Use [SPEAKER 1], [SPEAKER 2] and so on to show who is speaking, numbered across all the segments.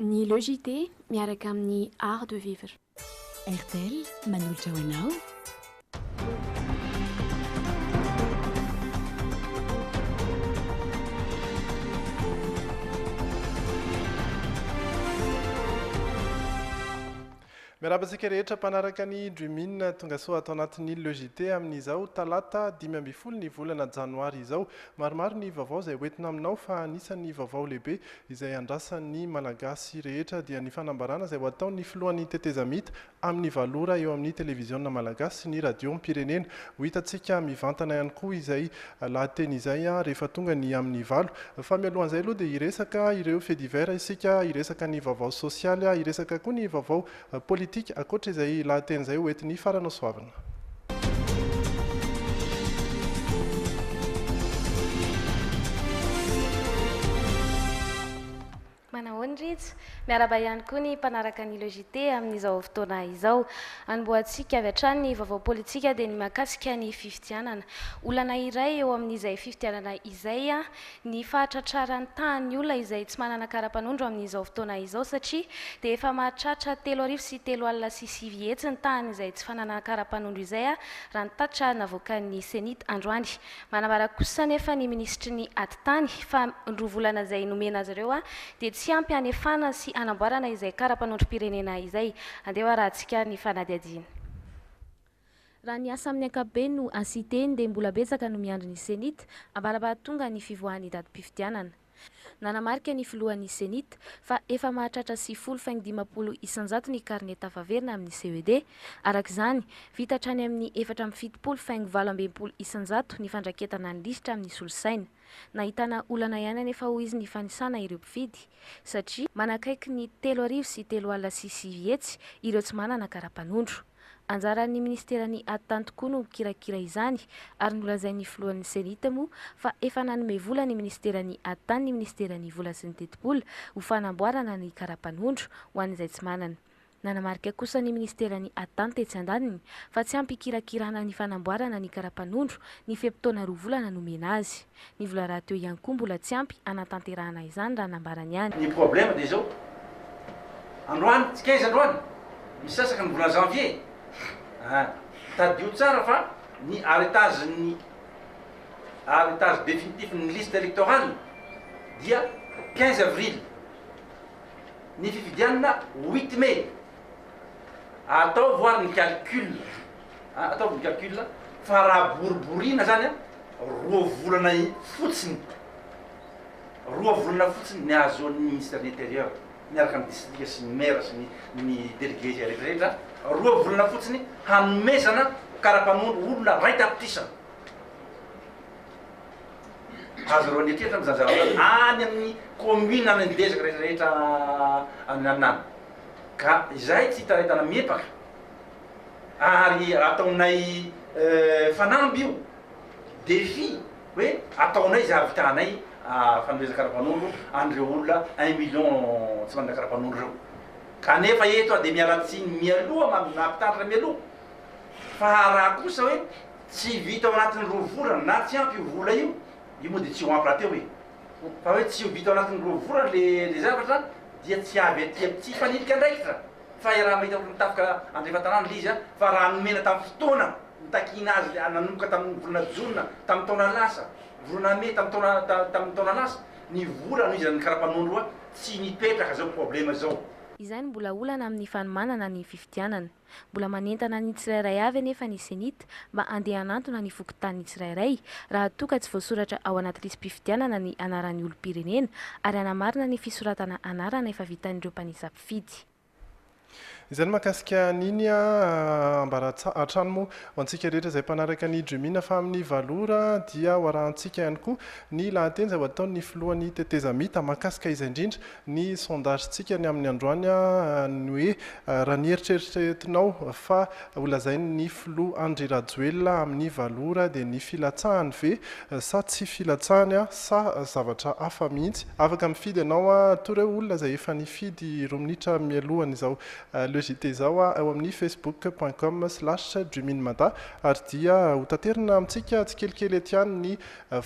[SPEAKER 1] Ny Le JT miaraka amin'ny Art de vivre. Airtel,
[SPEAKER 2] manolotra ho anao.
[SPEAKER 3] Miarahaba antsika rehetra mpanaraka ny Dreamin Tongasoa ato anatin'ny Le JT amin'izao talata dimy ambin'ny folo ny volana janoary izao. Maromaro ny vaovao izay hoentina aminao fa anisan'ny vaovao lehibe izay andrasan'ny Malagasy rehetra dia ny fanambarana izay ho ataon'ny filohan'ny tetezamita amin'ny valo ora eo amin'ny televiziona Malagasy sy ny radiom-pirenena. Ho hitantsika mivantana ihany koa izay lahateny izay rehefa tonga ny amin'ny valo. Fa mialohan'izay aloha dia hiresaka ireo faits divers isika, hiresaka ny vaovao sosialy, hiresaka koa ny vaovao politika ankoatra izay lahateny izay hoentin'ny faranasoavina.
[SPEAKER 4] Manao ny Rijo. Miarahaba ihany koa ny mpanaraka ny le JT amin'izao fotoana izao. Anombohantsika avy hatrany ny vaovao politika dia ny mahakasika ny fifidianana. Olana iray eo amin'izay fifidianana izay ny fahatratraran'ny tahan'ny olona izay tsy manana kara-panondro amin'izao fotoana izao satria dia efa mahatratra telo arivo sy telo alina sy sivy hetsy ny tahan'izay tsy fananana kara-panondro izay raha ny tatitra navoakan'ny Cenit androany. Manambara kosa anefa ny minisitry ny Atitany fa ny roa volana izay nomena azy ireo dia tsy ampy hanefana sy hanamboarana izay kara-panondrom-pirenena izay. Andeha ho arahantsika ny fanadihadiana.
[SPEAKER 5] Raha ny asa amin'ny ankapobeny no hasiteny dia mbola betsaka no miandry ny Cenit, ambarabahatonga ny fivoahan'ny datim-pifidianana. Nanamarika ny filohan'ny Cenit fa efa mahatratra sivifolo faingo dimampolo isanjato ny karne tafaverina amin'ny CED. Araka izany, vita hatrany amin'ny efatra amby fitopolo faingo valo amby enimpolo isanjato ny fandraketana ny lisitra amin'ny solosaina. Nahitana olana ihany anefa hoy izy ny fanisana ireo mpifidy satria manakaiky ny telo arivo sy telo alina sy sivy hetsy ireo tsy manana kara-panondro. Anjaran'ny minisiteran'ny Attany tokoa no mikirakira izany ary nolazain'ny filohan'ny Cenit moa fa efa nanome vola ny minisiteran'ny Attany ny minisiteran'ny Vola sy ny Tetibola ho fanamboarana ny karapanondro ho an'izay tsy manana. Nanamarika kosa ny minisiteran'ny Attany tetsy andaniny fa tsy ampy ikirakirana ny fanamboarana ny karapanondro ny fe-potoana roa volana nomena azy. Ny vola rahateo ihany koa mbola tsy ampy hanatanterahana izany raha nambarany ihany. Ny problème dia izao,
[SPEAKER 6] androany, tsy 15 androany, misasaka ny volana janvier a! Tadidio tsara fa ny arretage ny arretage définitif ny liste électorale dia 15 avril, ny fifidianana huit mai, ataovy ary ny calcul. Ataovy ny calcul fa raha boriborina zany a, roa volana fotsiny, roa volana fotsiny ny ahazoan'ny ministre de l'intérieur miaraka amin'ny distrika sy ny maire sy ny délégué izay rehetra rehetra, roa volana fotsiny hanomezana karapanondro olona ray tapitrisa. Azonareo an'eritreritra moa zany zavatra zany any amin'ny commune any amin'ny dezaka rehetra rehetra any an'any. Ka izahay tsy hitaraitana miepaka. ary ataonay fanamby io defi hoe ataonay izay havitanay fanomezana karapanondro an'ireo olona un million tsy manana karapanondro ireo kanefa eto aho dia miala tsiny mialoha maha mpitandrina mialoha fa raha kosa hoe tsy vita ao anatin'ny roa volana na tsy ampy io vola io io moa dia tsy ho ampy rahateo e fa hoe tsy ho vita ao anatin'ny roa volana le le zavatra dia tsy avy aty amintsika hifanilika andraikitra Fa iaraha mahita olona tafika andrefan tanàna ilay izy a! Fa raha nomena tamin'ny fotoana nitakiana azy ilay nanomboka tamin'ny volana jona tamin'ny taona lasa, volana mey tamin'ny taona tamin'ny taona lasa, ny vola no izy raha ny karapanao aloha tsy nipetraka izao problema izao. Izay no mbola
[SPEAKER 5] olana amin'ny fanomanana ny fifidianana. Mbola manentana ny tsirairay avy anefa ny Cenit mba andeha hanantona ny fokontanin'ny tsirairay raha toa ka tsy voasoratra ao anaty lisi-pifidianana ny anaran'ny olom-pirenena ary hanamarina ny fisoratana anarana efa vitan'ireo mpanisa mpifidy.
[SPEAKER 3] Izany mahakasika an'iny ah, ambara hatrany moa ho antsika rehetra izay mpanaraka ny Jumina fa amin'ny valo ora dia ho arahantsika ihany koa ny lahateny izay ho ataon'ny filohan'ny tetezamita mahakasika izay indrindra ny sondage-tsika ny amin'ny androany ah, ny hoe raha ny eritreritretinao fa Ho lazain' ny filoha Andry Rajoelina amin' ny valo ora dia ny filatsahany ve sa tsy filatsahany sa zavatra hafa mihitsy? Afaka mifidy ianao ato ireo olona izay efa nifidy roa minitra mialohan' izao Le JT izao ao amin' ny facebook point com slash juminmada ary dia hotaterina amintsika tsikelikely ety an' ny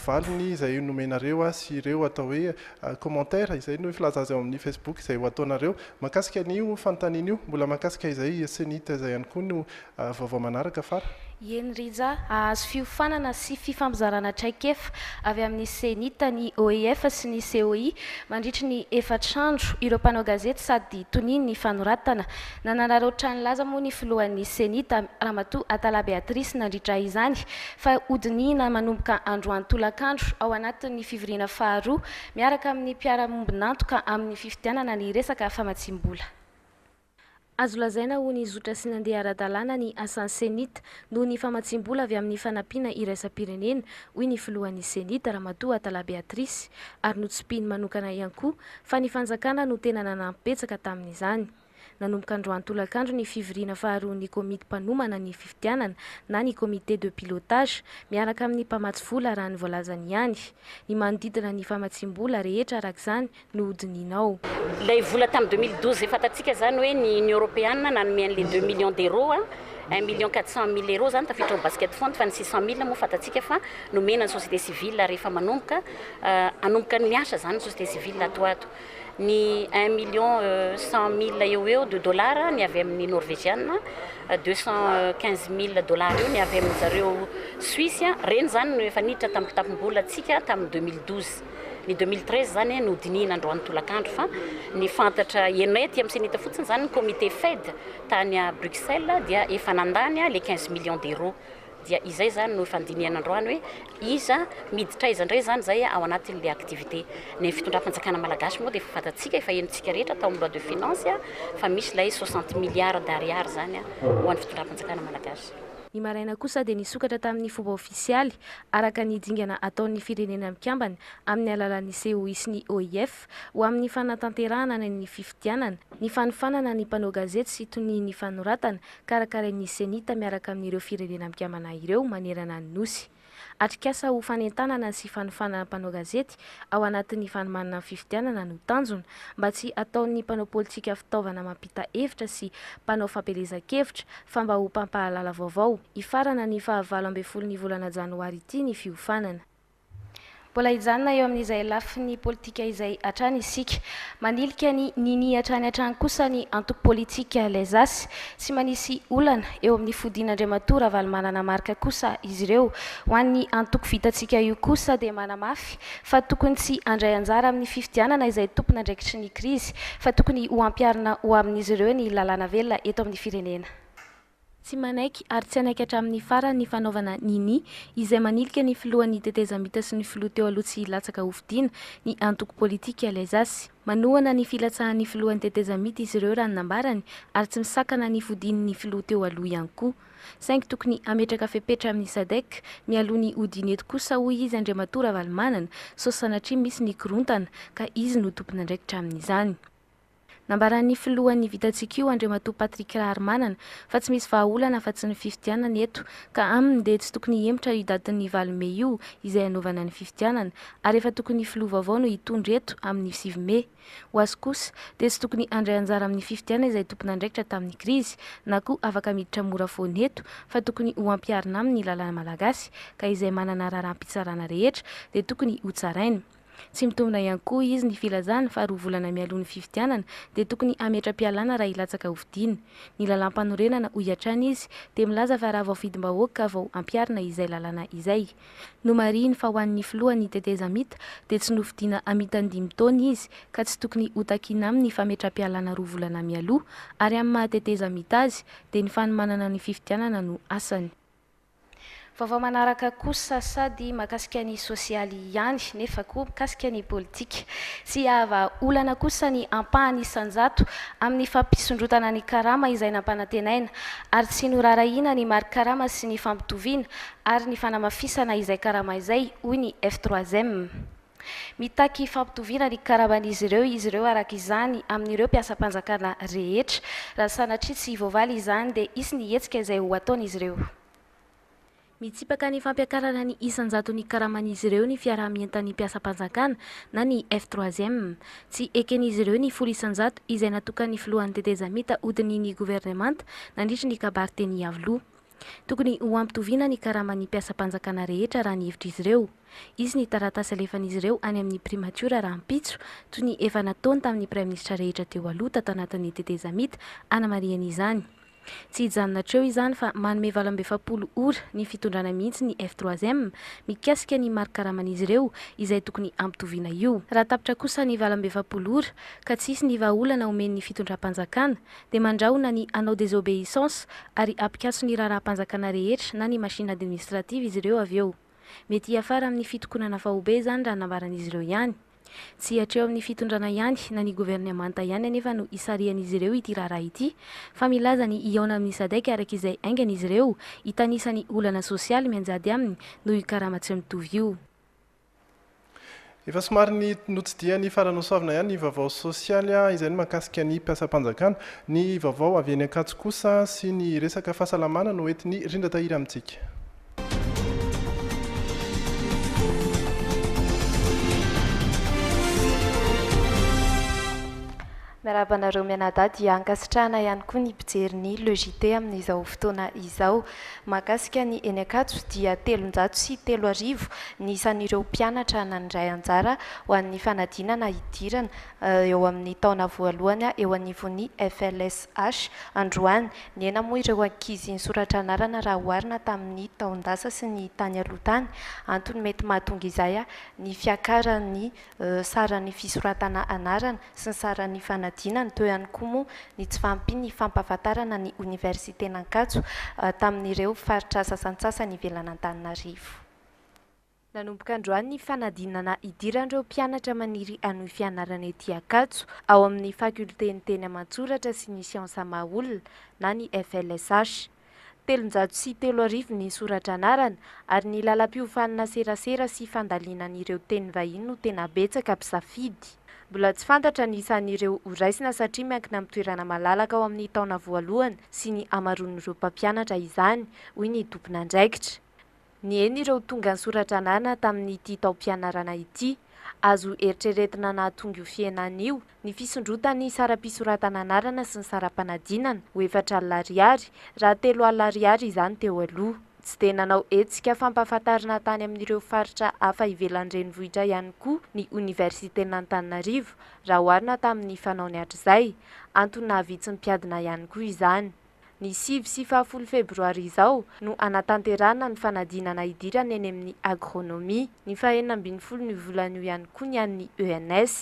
[SPEAKER 3] valiny izay nomenareo azy sy ireo atao hoe commentaires, izay no filaza azy ao amin'ny Facebook izay ho ataonareo mahakasika an'io fanontaniana io, mbola mahakasika izay Cenit izay ihany koa no vaovao manaraka fara. Eny Rija,
[SPEAKER 4] hahazo fiofanana sy fifampizarana traikefa avy amin'ny Cenit ny OIF sy ny COI mandritry ny efatr'andro, ireo mpanao gazety sady tonia ny fanoratana. Nanararaotra ny laza moa ny filohan'ny Cenit, Ramatoa Atala Beatrice nandritra izany fa hodinihina manomboka androany tolakandro ao anatin'ny fivoriana faharoa miaraka amin'ny mpiara-miombon'antoka amin'ny fifidianana ny resaka famatsiam-bola.
[SPEAKER 5] Azo lazaina ho nizotra sy nandeha ara-dalàna ny asan'ny Cenit noho ny famatsiam-bola avy amin'ny fanampiana iraisam-pirenena, hoy ny filohan'ny Cenit, Ramatoa Atala Beatrice, ary notsimpihiny manokana ihany koa fa ny fanjakana no tena nanampy betsaka tamin'izany. Nanomboka androany tolakandro ny fivoriana faharoan'ny komity mpanomana ny fifidianana na ny comité de pilotage miaraka amin'ny mpamatsy vola raha ny voalazany ihany. Ny manodidina ny famatsiam-bola rehetra araka izany no hodinihina ao. Ilay vola
[SPEAKER 7] tamin'ny deux mille douze, fantatsika izany hoe ny Union Européenne nanome an'ilay deux millions d'euros, un million quatre cent mille euros izany tafiditra ao basket fund, fa ny six cent mille moa fantatsika fa nomena ny société civile rehefa manomboka hanomboka ny miasa izany ny société civile ato ho ato. ny un million cent mille eo ho eo de dollars ny avy amin'ny Norvegiana, deux cent quinze mille dollars eo ny avy amin-dry zareo Suisse. Ireny izany no efa niditra tamin'ny kitapom-bolantsika tamin'ny deux mille douze. Ny deux mille treize izany no dinihina androany tolakandro fa ny fantatra henay aty amin'ny Cenit fotsiny izany ny comité FED tany à Bruxelles dia efa nandany les quinze millions d'euros. Dia izay izany no efa handinihana androany hoe iza miditra aiza indray izany izay ao anatin'ilay activité. Ny fitondram-panjakana malagasy moa dia efa fantatsika, efa henontsika rehetra tao amin'ny loi de finance fa misy ilay soixante milliards d'ariary izany ho an'ny fitondram-panjakana malagasy. Ny maraina kosa
[SPEAKER 5] dia nisokatra tamin'ny fomba ofisialy, araka ny dingana ataon'ny Firenena Mikambana amin'ny alalan'ny COI sy ny OIF, ho amin'ny fanatanterahana ny ny fifidianana, ny fanofanana ny mpanao gazety sy tonian'ny fanoratana, karakarain'ny CENI-T miaraka amin'ireo firenena mpikambana ireo manerana ny Nosy. Atrikasa ho fanentanana sy fanofanana mpanao gazety ao anatin'ny fanomanana ny fifidianana no tanjona, mba tsy hataon'ny mpanao politika fitaovana mampita hevitra sy mpanao fampielezan-kevitra, fa mba ho mpampahalala vaovao. Hifarana ny fahavalo ambin'ny folon'ny volana janoary ity ny fiofanana. Mbola
[SPEAKER 4] hijanona eo amin'izay lafiny politika izay hatrany isika. Manilika ny nini hatrany hatrany kosa ny antoko politika Les As. Tsy manisy olana eo amin'ny fodian'Andriamatoa Ravalomanana Marc kosa izy ireo. Ho an'ny antoko Vitantsika io kosa dia manamafy fa tokony tsy handray anjara amin'ny fifidianana izay tompon'andraikitry ny krizy fa tokony ho ampiharina ho amin'izy ireo ny lalàna velona eto amin'ny firenena. Tsy
[SPEAKER 5] manaiky ary tsy hanaiky hatramin'ny farany ny fanaovana ny ny izay manilika ny filohan'ny tetezamita sy ny filoha teo aloha tsy hilatsaka hofidiana ny antoko politika Lezasy. Manohana ny filatsahan'ny filohan'ny tetezamita izy ireo raha ny nambarany ary tsy misakana ny fodian'ny filoha teo aloha ihany koa. Saingy tokony hametraka fepetra amin'ny Sadec mialoha ny hodiany eto kosa hoy izy Andriamatoa Ravalomanana sao sanatria misy ny korontana ka izy no tompon'andraikitra amin'izany. Nambaran'ny filohan'ny Vitatsikio, Andriamatoa Patrick Raharimanana, fa tsy misy vahaolana afa-tsy ny fifidianana eto, ka aminy dia tsy tokony hihemotra io datin'ny valo mey io izay hanaovana ny fifidianana, ary efa tokony filoha vaovao no hitondra eto amin'ny sivy mey. Ho azy kosa, dia tsy tokony handray anjara amin'ny fifidianana izay tompon'andraikitra tamin'ny krizy, na koa afaka miditra mora foana eto, fa tokony ho ampiharina aminy ny lalàna malagasy, ka izay manana raharaham-pitsarana rehetra dia tokony hotsaraina. Tsy mitombina ihany koa izy ny filazana fa roa volana mialoha ny fifidianana dia tokony hametra-pialana raha hilatsaka hofidiana. Ny lalàmpanorenana, hoy hatrany izy, dia milaza fa raha vao fidim-bahoaka vao hampiharina izay lalàna izay. Nomarihiny fa ho an'ny filohan'ny tetezamita dia tsy nofidiana hamitandimy taona izy ka tsy tokony hotakina amin'ny fametra-pialana roa volana mialoha ary amin'ny maha tetezamita azy dia ny fanomanana ny fifidianana no asany.
[SPEAKER 4] Vaovao manaraka kosa sady mahakasika ny sosialy ihany nefa koa mikasika ny politika. Tsy hahavaha olana kosa ny ampahany isan-jato amin'ny fampisondrotana ny karama izay nampanantenaina ary tsy noraharahiana ny mari-karama sy ny fampitoviana ary ny fanamafisana izay karama izay, hoy ny F3M. Mitaky fampitoviana ny karaman'izy ireo izy ireo araka izany amin'ireo mpiasam-panjakana rehetra. Raha sanatria tsy voavaly izany dia hisy ny hetsika izay ho ataon'izy ireo. Mitsipaka
[SPEAKER 5] ny fampiakarana ny isan-jaton'ny karaman'izy ireo ny fiaraha-mientan'ny mpiasam-panjakana na ny F-troisième. Tsy eken'izy ireo ny folo isan-jato izay natokan'ny filohan'ny tetezamita hodinihin'ny governemanta nandritry ny kabary teny Iavoloha. Tokony ho ampitoviana ny karaman'ny mpiasam-panjakana rehetra raha ny hevitr'izy ireo. Hisy ny taratasy alefan'izy ireo any amin'ny primatiora rahampitso, toy ny efa nataony tamin'ny praiminisitra rehetra teo aloha tato anatin'ny tetezamita hanamarihany izany. Tsy hijanona hatreo izany fa manome valo amby efapolo ora ny fitondrana mihitsy ny F3M mikasika ny mari-karaman'izy ireo izay tokony hampitoviana io. Raha tapitra kosa ny valo amby efapolo ora ka tsy hisy ny vahaolana omen'ny fitondram-panjakana dia mandrahona ny hanao désobéissance ary ampikaso ny raharaham-panjakana rehetra na ny machine administrative izy ireo avy eo. Mety hiafara amin'ny fitokonana faobe izany raha nambaran'izy ireo ihany. Tsy hatreo amin'ny fitondrana ihany na ny governemanta ihany anefa no hisarihan'izy ireo ity raharaha ity fa milaza ny hihaona amin'ny Sadec araka izay haingana izy ireo hitanisa ny olana sosialy mianjady aminy noho io karama tsy mitovy io.
[SPEAKER 3] Efa somary ny notsidihan'ny Faranosoavina ihany ny vaovao sosialy izay ny mahakasika ny mpiasam-panjakana. Ny vaovao avy eny Ankatso kosa sy ny resaka fahasalamana no entin'i Rindra Tahiry amintsika.
[SPEAKER 8] Miarahaba anareo mianadahy dia ankasitrahana ihany koa ny mpijery ny Le JT amin'izao fotoana izao. Mahakasika ny eny Ankatso dia telonjato sy telo arivo ny isan'ireo mpianatra nandray anjara ho an'ny fanadinana hidirana eo amin'ny taona voalohany eo anivon'ny FLSH androany. Nihena moa ireo ankizy nisoratra anarana raha oharina tamin'ny taon-dasa sy ny tany aloha tany. Antony mety mahatonga izay ny fiakaran'ny saran'ny fisoratana anarana sy ny saran'ny fanadinana, teo ihany koa moa ny tsy fahampian'ny fampahafantarana ny Oniversiten'Ankatso tamin'ireo faritra sasantsasany ivelan'Antananarivo. Nanomboka androany ny fanadinana hidiran'ireo mpianatra maniry hanohy fianarana ety Ankatso, ao amin'ny Fakiolten'ny Teny aman-tsoratra sy ny Siansa maha-olona na ny FLSH. telonjato sy telo arivo ny sora-dranarana ary ny lalam-piofanana serasera sy fandalinan'ireo teny vahiny no tena betsaka mpisafidy. Mbola tsy fantatra ny isan'ireo ho raisina satria miankina amin'ny toerana malalaka ao amin'ny taona voalohany sy ny hamaroan'ireo mpampianatra izany, hoy ny tompon'andraikitra. Niheno ireo tonga sora-dranana tamin'ity taom-pianarana ity. Azo eritreretina nahatonga io fihenana io ny fisondrotan'ny saram-pisoratana anarana sy ny saram-panadinana ho efatra alina ariary, raha telo alina ariary izany teo aloha. Tsy dia nanao hetsika fampahafantarana tany amin'ireo faritra hafa ivelan'ny renivohitra ihany koa ny Oniversiten'Antananarivo raha oharina tamin'ny fanaony hatrizay. Antony nahavitsy ny mpiadina ihany koa izany. Ny sivy sy fahafolo febroary izao no hanatanterahana ny fanadinana hidirana eny amin'ny agronomie. Ny fahenina ambin'ny folon'io volana io ihany koa ny an'ny ENS.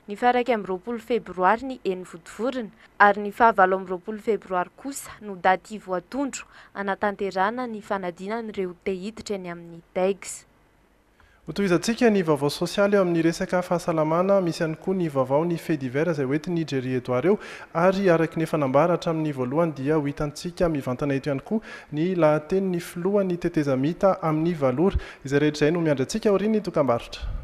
[SPEAKER 8] Ny faharaika amby roapolo febroary ny eny Vontovorona ary ny fahavalo amby roapolo febroary kosa no daty voatondro hanatanterahana ny fanadinan'ireo te hiditra eny amin'ny DEGS.
[SPEAKER 3] Hotohizantsika ny vaovao sosialy eo amin'ny resaka fahasalamana, misy ihany koa ny vaovaon'ny faits divers izay hoentin'i Jerry Edouard eo ary araky ny efa nambara hatramin'ny voalohany dia ho hitantsika mivantana eto ihany koa ny lahatenin'ny filohan'ny tetezamita amin'ny valo ora. Izay rehetra izay no miandry antsika aorian'ny dokambarotra.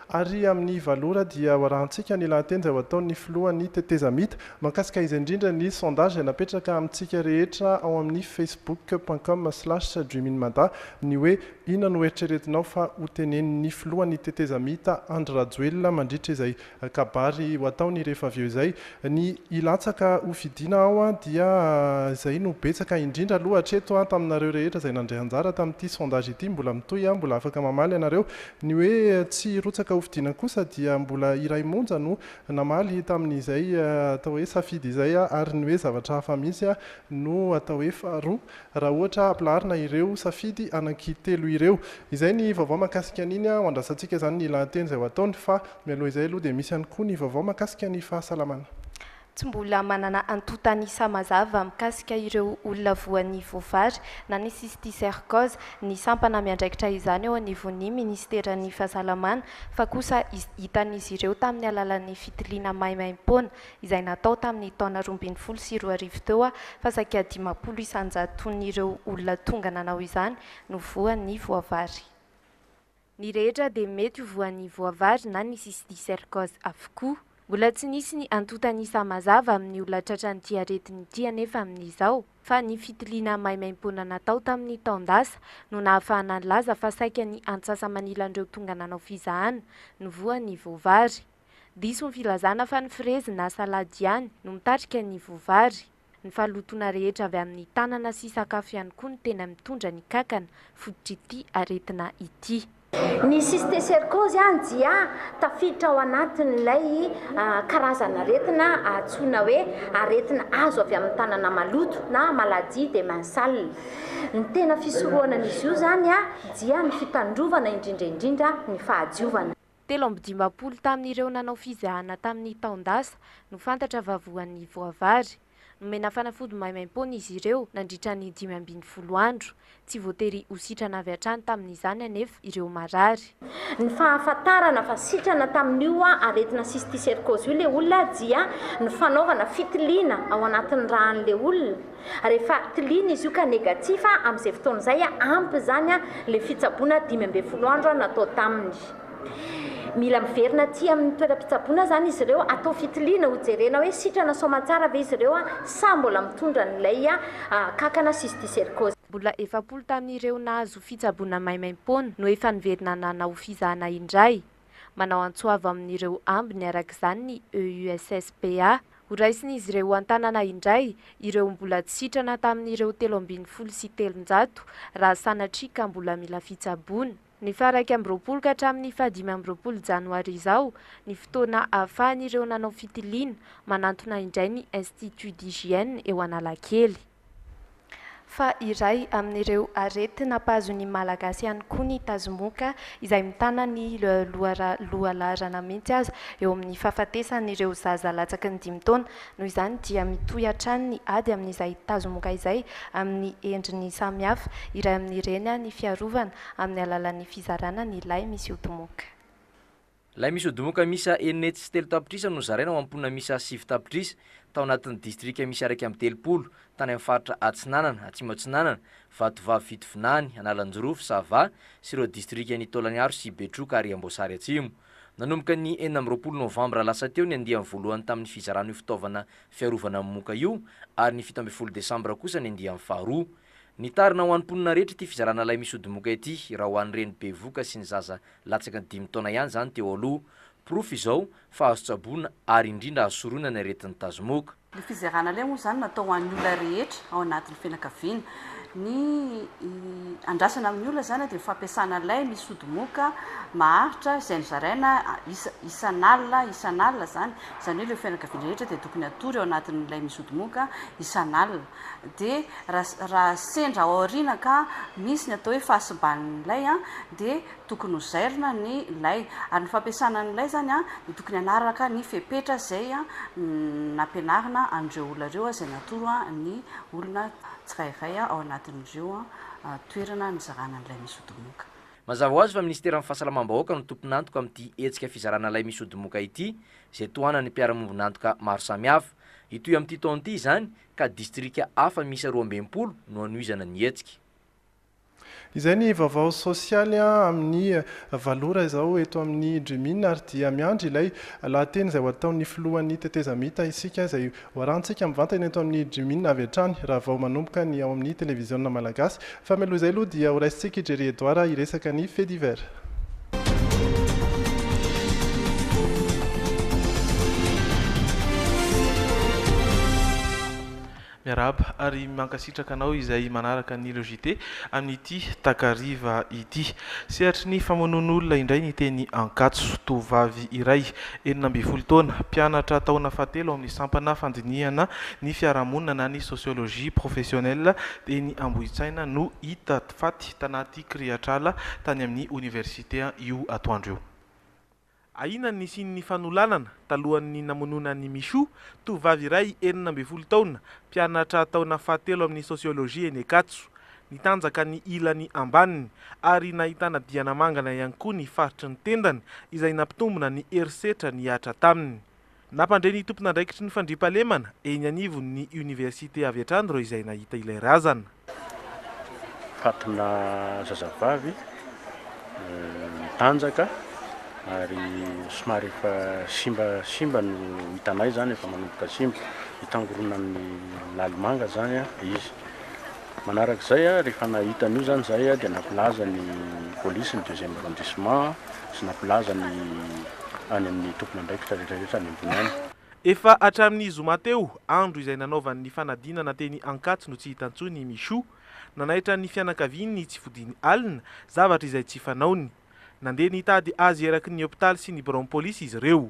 [SPEAKER 3] Ary amin'ny valora dia ho arahantsika ny lahateny izay ho ataon'ny filohan'ny tetezamita mahakasika izay indrindra ny sondage izay napetraka amintsika rehetra ao amin'ny facebook point com slash dreaminmada ny hoe inona no eritreretinao fa ho tenenin'ny filohan'ny tetezamita Andry Rajoelina mandritra izay kabary ho ataony rehefa avy eo izay ny hilatsaka ho fidiana ao dia izay no betsaka indrindra aloha hatreto taminareo rehetra izay nandray anjara tamin'ity sondage ity mbola mitohy mbola afaka mamaly ianareo Ny hoe tsy hirotsaka hofidiana kosa dia mbola iray monja no namaly tamin'izay atao hoe safidy izay ary ny hoe zavatra hafa misy no atao hoe faharoa raha ohatra ampilaharina ireo safidy anankitelo ireo. Izay ny vaovao mahakasika an'iny, ho andrasantsika izany ny lahateny izay ho ataony fa mialoha izay aloha dia misy ihany koa ny vaovao mahakasika ny fahasalamana. Tsy mbola
[SPEAKER 8] manana antontan'isa mazava mikasika ireo olona voan'ny voavary na ny cysticercose ny sampana miandraikitra izany eo anivon'ny minisiteran'ny Fahasalamana fa kosa hitan'izy ireo tamin'ny alalan'ny fitiliana maimaimpoana izay natao tamin'ny taona roa ambin'ny folo sy roa arivo teo fa saika dimampolo isanjaton'ireo olona tonga nanao izany no voan'ny voavary. Ny rehetra dia mety ho voan'ny voavary na ny cysticercose avokoa. Mbola tsy nisy ny antontan'isa mazava amin'ny olona tratran'ity aretina ity anefa amin'izao, fa ny fitiliana maimaimpoana natao tamin'ny taon-dasa no nahafahana nilaza fa saika ny antsasa-manilan'ireo tonga nanao fizahana no voan'ny voavary. Diso ny filazana fa ny frezy na salady ihany no mitarika ny voavary. Ny fahalotoana rehetra avy amin'ny tanana sy sakafo ihany koa no tena mitondra ny kankana, fototr'ity aretina ity. Ny
[SPEAKER 9] cysticercose, dia tafiditra ao anatin'ilay karazan'aretina antsoina hoe aretina azo avy amin'ny tanana maloto na maladie des mains sales. Ny tena fisorohana an'izy io izany dia ny fitandrovana indrindra indrindra ny fahadiovana. Telo amby dimampolo
[SPEAKER 8] tamin'ireo nanao fizahana tamin'ny taon-dasa no fantatra fa voan'ny voavary. Nomena fanafody maimaimpoana izy ireo nandritra ny dimy ambin'ny folo andro. Tsy voatery ho sitrana avy hatrany tamin'izany anefa ireo marary. Ny
[SPEAKER 9] fahafantarana fa sitrana tamin'io aretina cysticercose io ilay olona dia ny fanaovana fitiliana ao anatin'ny ràn'ilay olona. Rehefa tiliana izy io ka negatif amin'izay fotoana izay, ampy izany ilay fitsaboana dimy ambin'ny folo andro natao taminy. Mila miverina aty amin'ny toeram-pitsaboana izany izy ireo, atao fitiliana hojerena hoe sitrana soamantsara ve izy ireo sa mbola mitondra an'ilay kankana cysticercose. Mbola efapolo
[SPEAKER 8] tamin'ireo nahazo fitsaboana maimaim-poana no efa niverina nanao fizahana indray. Manao antso avo amin'ireo ambiny araka izany ny EUSSPA. Horaisin'izy ireo an-tanana indray ireo mbola tsy sitrana tamin'ireo telo ambin'ny folo sy telonjato raha sanatria ka mbola mila fitsaboana. Ny faha iraika amby roapolo ka hatramin'ny faha dimy amby roapolo janoary izao ny fotoana ahafahan'ireo nanao fitiliana manantona indray ny Institut d'hygiène eo Analakely. Fa iray amin'ireo arety nampahazo ny Malagasy ihany koa ny tazomoka izay mitana ny lohalaharana mihitsy aza eo amin'ny fahafatesan'ireo zaza latsaky ny dimy taona. Noho izany dia mitohy hatrany ny ady amin'izay tazomoka izay amin'ny endriny samihafa. Iray amin'ireny ny fiarovana amin'ny alalan'ny fizarana ny lay misy ody moka. Lay
[SPEAKER 10] misy odimoka miisa enina hetsy sy telo tapitrisa no zaraina ho amin'ny mponina miisa sivy tapitrisa tao anatin'ny distrika miisa iraika amby telopolo tany amin'ny faritra Atsinanana, Atsimo Atsinanana, Vatovavy Fitovinany, Analanjirofo, Sava sy ireo distrikan'i Taolagnaro sy Betroka ary Amboasary Atsimo. Nanomboka ny enina amby roapolo novambra lasa teo ny andiany voalohany tamin'ny fizarana io fitaovana fiarovana amin'ny moka io ary ny fito ambin'ny folo desambra kosa ny andiany faharoa. Nitarina ho an'ny mponina rehetra ity fizarana lay misy odimoka ity raha ho an'ny reny bevoka sy ny zaza latsaka ny dimy taona ihany izany teo aloha. Porofo izao fa azo tsaboina ary indrindra azo sorohina ny aretin'ny tazomoka. Ny fizarana lay
[SPEAKER 11] moa izany natao ho an'ny olona rehetra ao anatin'ny fianakaviana. Ny andrasana amin'ny olona izany dia ny fampiasana lay misy odimoka maharitra izay nozaraina isan'alina isan'alina izany. Izany hoe ireo fianakaviana rehetra dia tokony hatory ao anatin'ny lay misy odimoka isan'alina. dia raha sendra ao aoriana ka misy ny atao hoe fahasiban'ny lay dia tokony ho zairina ny lay. Ary ny fampiasana ny lay izany dia tokony hanaraka ny fepetra izay nampianarina an'ireo olona ireo izay natoro ny olona tsirairay ao anatin'ireo toerana nizarana ny lay misy odimoka. Mazava ho azy fa
[SPEAKER 10] minisiteran'ny Fahasalamam-bahoaka no tompon'antoka amin'ity hetsika fizarana lay misy odimoka ity izay tohanan'ny mpiara-miombon'antoka maro samihafa. Hitohy amin'ity taona ity izany ka distrika hafa miisa roa ambin'ny folo no hanohizana ny hetsika.
[SPEAKER 3] Izay ny vaovao sosialy amin'ny valo ora izao eto amin'ny Dreaminn ary dia miandry ilay lahateny izay ho ataon'ny filohan'ny tetezamita isika izay hoarahantsika mivantana eto amin'ny Dreaminn avy hatrany raha vao manomboka ny ao amin'ny televiziona malagasy fa mialoha izay aloha dia horaisintsika i Jerry Edouard hiresaka ny fait divers.
[SPEAKER 12] Miarahaba ary mankasitraka anao izay manaraka ny Hello JT amin'ity takariva ity. Sehatry ny famonoan'olona indray ny teny Ankatso. Tovovavy iray, enina ambin'ny folo taona, mpianatra taona fahatelo ao amin'ny sampana fandinihana ny fiarahamonina na ny sociologie professionnelle teny Ambohitsaina no hita Faty tanaty kirihatr'ala tany amin'ny oniversite io atoandro io. Ahiana ny nisian'ny fanolanana talohan'ny namonoana an'i Michou, tovovavy iray enina ambin'ny folo taona, mpianatra taona fahatelo amin'ny sosiolojia eny Ankatso. Nitanjaka ny ilany ambaniny ary nahitana diana mangana ihany koa ny faritry ny tendany izay nampitombina ny herisetra nihatra taminy. Nampandre ny tompon'andraikitry ny fandriampahalemana eny anivon'ny oniversite avy hatrany ireo izay nahita ilay razana. Fatina
[SPEAKER 13] zazavavy mitanjaka ary somary efa simba simba no hitanay zany efa manomboka simba hitangoronan'ny lalimanga zany izy. Manaraka izay, rehefa nahita an'io izany izahay dia nampilaza ny polisy ny deuxième arrondissement sy nampilaza ny any amin'ny tompon'andraikitra rehetrarehetra any ambony any. Efa hatramin'ny
[SPEAKER 12] zoma teo, andro izay nanaovany ny fanadinana teny Ankatso no tsy hita intsony i Michou. Nanaitra ny fianakaviany ny tsy fodiany alina, zavatra izay tsy fanaony. Nandeha nitady azy eraky ny hopitaly sy ny biraon'ny polisy izy ireo.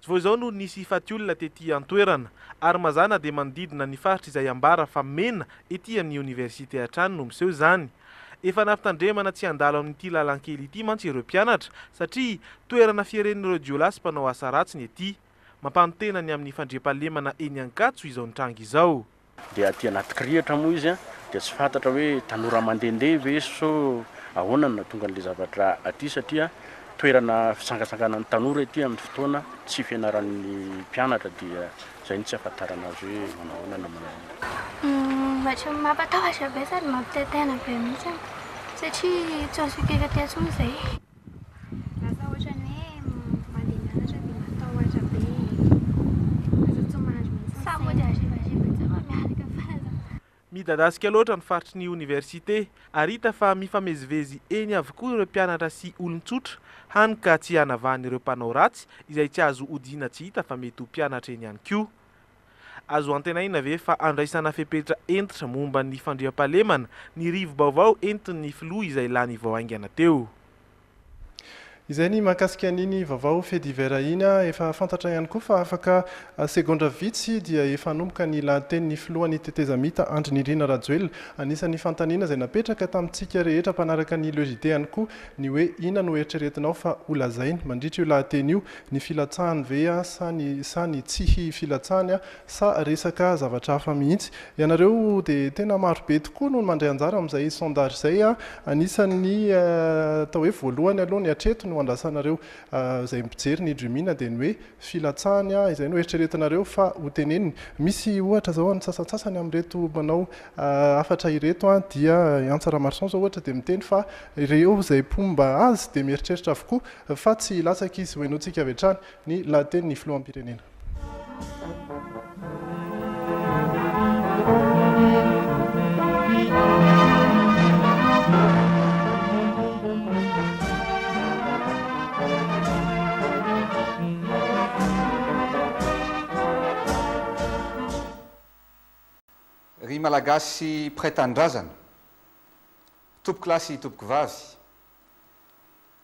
[SPEAKER 14] Tsy vao izao no nisy
[SPEAKER 12] hifaty olona tety an-toerana, ary mazà na dia manodidina ny faritra izay ambara fa mena ety amin'ny oniversite hatrany no miseho izany. Efa nampitandremana tsy handalo amin'ity lalankely ity mantsy ireo mpianatra satria toerana fieren'ireo jiolahy sy mpanao asa ratsy ny ety. Mampanontena ny amin'ny fandriampahalemana eny Ankatso izao nitranga izao. Dia aty anaty
[SPEAKER 13] kirihitra moa izy dia tsy fantatra hoe tanora mandehandeha ve so ahoana no nahatonga an'ilay zavatra aty satria toerana fitsangatsanganan'ny tanora ity amin'ny fotoana tsy fianaran'ny mpianatra dia izay no tsy ahafantarana azy hoe manao ahoana na manao ahoana. Ohatran'ny mampatahotra
[SPEAKER 15] be sady mampitahitaina be mihitsy satria tsy azoko hiainga aty intsony izay. Lasa ohatran'ny hoe mandeha mianatra dia matahotra be e. Lasa tsy mahandry mihitsy ny saina. Sa mody harivariva tsy mba miaraka fahalalana. Midadasika
[SPEAKER 12] loatra ny faritry ny oniversite ary hita fa mifamezivezy eny avokoa ireo mpianatra sy olon-tsotra, hany ka tsy hanavahana ireo mpanao ratsy izay tsy azo odiana tsy hita fa mety ho mpianatra eny ihany koa. Azo antenaina ve fa handraisana fepetra hentitra momba ny fandriampahalemana ny rivo-baovao entin'ny filoha izay lany vao haingana teo?
[SPEAKER 3] Izay ny mahakasika an'iny vaovao fait divers iny. Efa fantatra ihany koa fa afaka segondra vitsy dia efa hanomboka ny lahatenin'ny filohan'ny tetezamita Andry Nirina Rajoelina. Anisan'ny fanontaniana izay napetraka tamintsika rehetra mpanaraka ny Le JT ihany koa ny hoe inona no eritreretinao fa holazainy mandritra io lahateny io ny filatsahany ve sa ny sa ny tsihy filatsahany sa resaka zavatra hafa mihitsy. Ianareo dia tena maro be tokoa no mandray anjara amin'izay sondage izay. Anisan'ny atao hoe voalohany aloha ny hatreto no andrasanareo izay mpijery ny Dreamina dia ny hoe filatsahany izay no eritreretinareo fa ho teneniny. Misy ohatra izao ny sasantsasany amin'ireto mpanao hafatra ireto dia i Antsa Ramarison izao ohatra dia miteny fa ireo izay mpomba azy dia mieritreritra avokoa Fa tsy hilatsaka izy, hohenointsika avy hatrany ny lahatenin'ny filoham-pirenena.
[SPEAKER 16] Ry Malagasy mpiray tanindrazana, Tompokolahy sy Tompokovavy,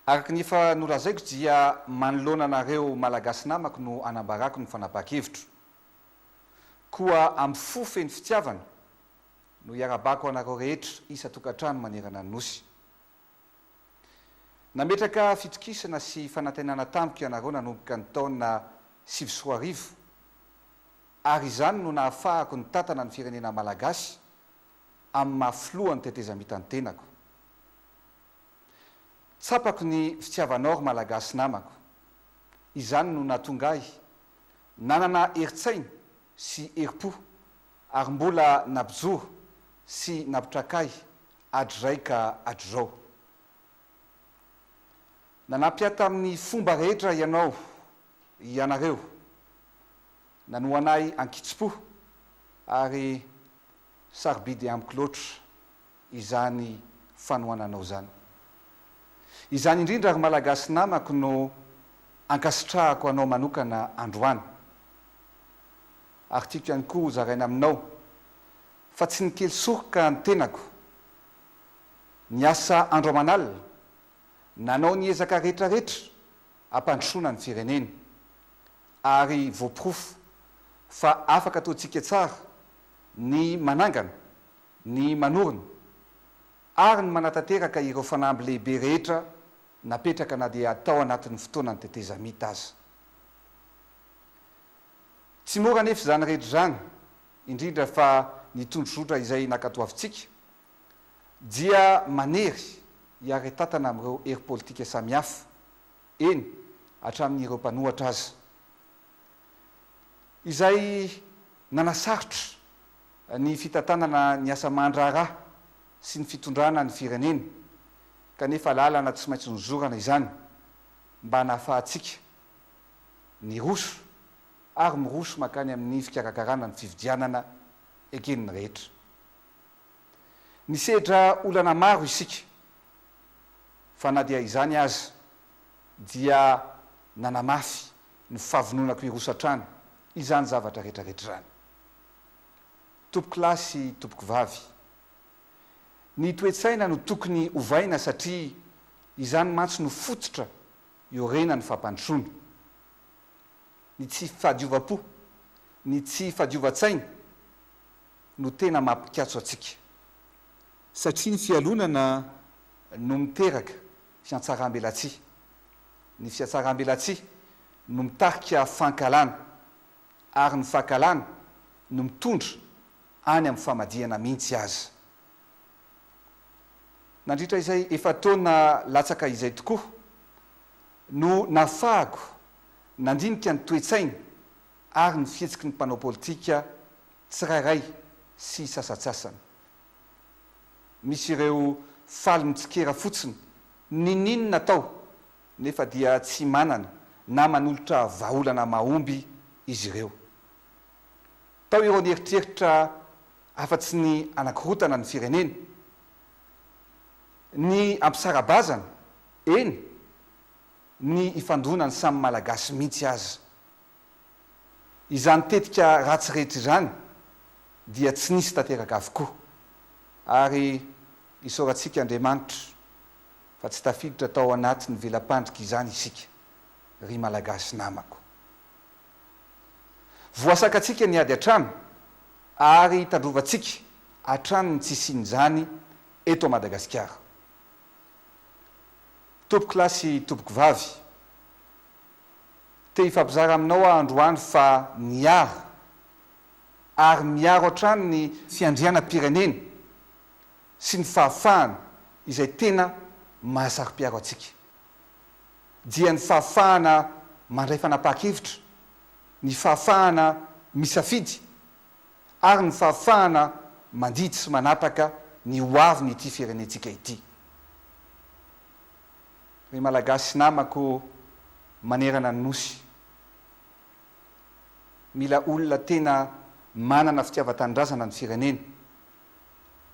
[SPEAKER 16] Araka ny efa nolazaiko dia manoloana anareo Malagasy namako no anambarako ny fanapahan-kevitro. Koa amin'ny fo feno fitiavana no iarabako anareo rehetra isan-tokantrano manerana ny Nosy. Nametraka fitokisana sy fanantenana tamiko ianareo nanomboka ny taona sivy sy roa arivo ary izany no nahafahako nitantana ny firenena Malagasy amin'ny maha filohan'ny tetezamitan'ny tenako. Tsapako ny fitiavanao ry Malagasy namako. Izany no nahatonga ahy nanana herin-tsaina sy herim-po ary mbola nampijoro sy nampitraka ahy hatrizay ka hatrizao. Nanampy ahy tamin'ny fomba rehetra ianao, ianareo. Nanohana ahy an-kitsim-po ary sarobidy amiko loatra izany fanohananao izany. Izany indrindra ry Malagasy namako no ankasitrahako anao manokana androany. Ary tiako ihany koa ho zaraina aminao fa tsy nikely soroka ny tenako. Niasa andro aman'alina, nanao ny ezaka rehetrarehetra hampandrosoana ny firenena. Ary voaporofo fa afaka ataontsika tsara ny manangana ny manorina ary ny manatanteraka ireo fanamby lehibe rehetra napetraka na dia tao anatin'ny fotoanan'ny tetezamita aza. Tsy mora anefa izany rehetra izany, indrindra fa ny tondrozotra izay nankatoavintsika dia manery hiaretantana amin'ireo hery politika samihafa, eny, hatramin'ireo mpanohatra aza. izay nanasarotra ny fitantanana ny asa aman-draharaha sy ny fitondrana ny firenena, kanefa lalana tsy maintsy nozorana izany mba nahafahantsika niroso ary miroso mankany amin'ny fikarakarana ny fifidianana eken'ny rehetra. Nisedra olana maro isika, fa na dia izany aza dia nanamafy ny fahavononako hiroso hatrany izany zavatra retraretra izany. Tompoko lahy sy tompoko vavy, ny toe-tsaina no tokony ovaina satria izany mantsy no fototra iorenan'ny fampandrosoana. Ny tsy fahadiovam-po, ny tsy fahadiovan-tsaina no tena maha mpikatso antsika. Satria ny fialonana no miteraka fiatsarambelatsihy. Ny fiatsarambelatsihy no mitarika fankahalana ary ny fankahalana no mitondra any amin'ny famadihana mihitsy aza. Nandritra izay efa-taona latsaka izay tokoa no nahafahako nandinika ny toe-tsaina ary ny fihetsiky ny mpanao politika tsirairay sy sasantsasany. Misy ireo faly mitsikera fotsiny ninin atao nefa dia tsy manana na manolotra vahaolana mahomby izy ireo. Tao ireo nieritreritra afatsy ny anakorontana ny firenena, ny ampisara-bazana, eny, ny ifandonan'ny samy Malagasy mihitsy aza. izany tetika ratsy rehetra izany dia tsy nisy tanteraka avokoa ary isaorantsika Andriamanitra fa tsy tafiditra tao anatin'ny vela-pandrika izany isika ry Malagasy namako. Voasakantsika ny ady hatrany ary tandrovantsika hatrany ny tsy hisian'izany eto Madagasikara. Tompokolahy sy tompokovavy, Te hifampizara aminao aho androany fa miaro ary miaro hatrany ny fiandrianam-pirenena sy ny fahafahana izay tena mahasaro-piaro antsika. Dia ny fahafahana mandray fanapahan-kevitra, ny fahafahana misafidy ary ny fahafahana mandidy sy manapaka ny hoavin'ity firenentsika ity. Ry Malagasy namako manerana ny Nosy, mila olona tena manana fitiavan-tanindrazana ny firenena,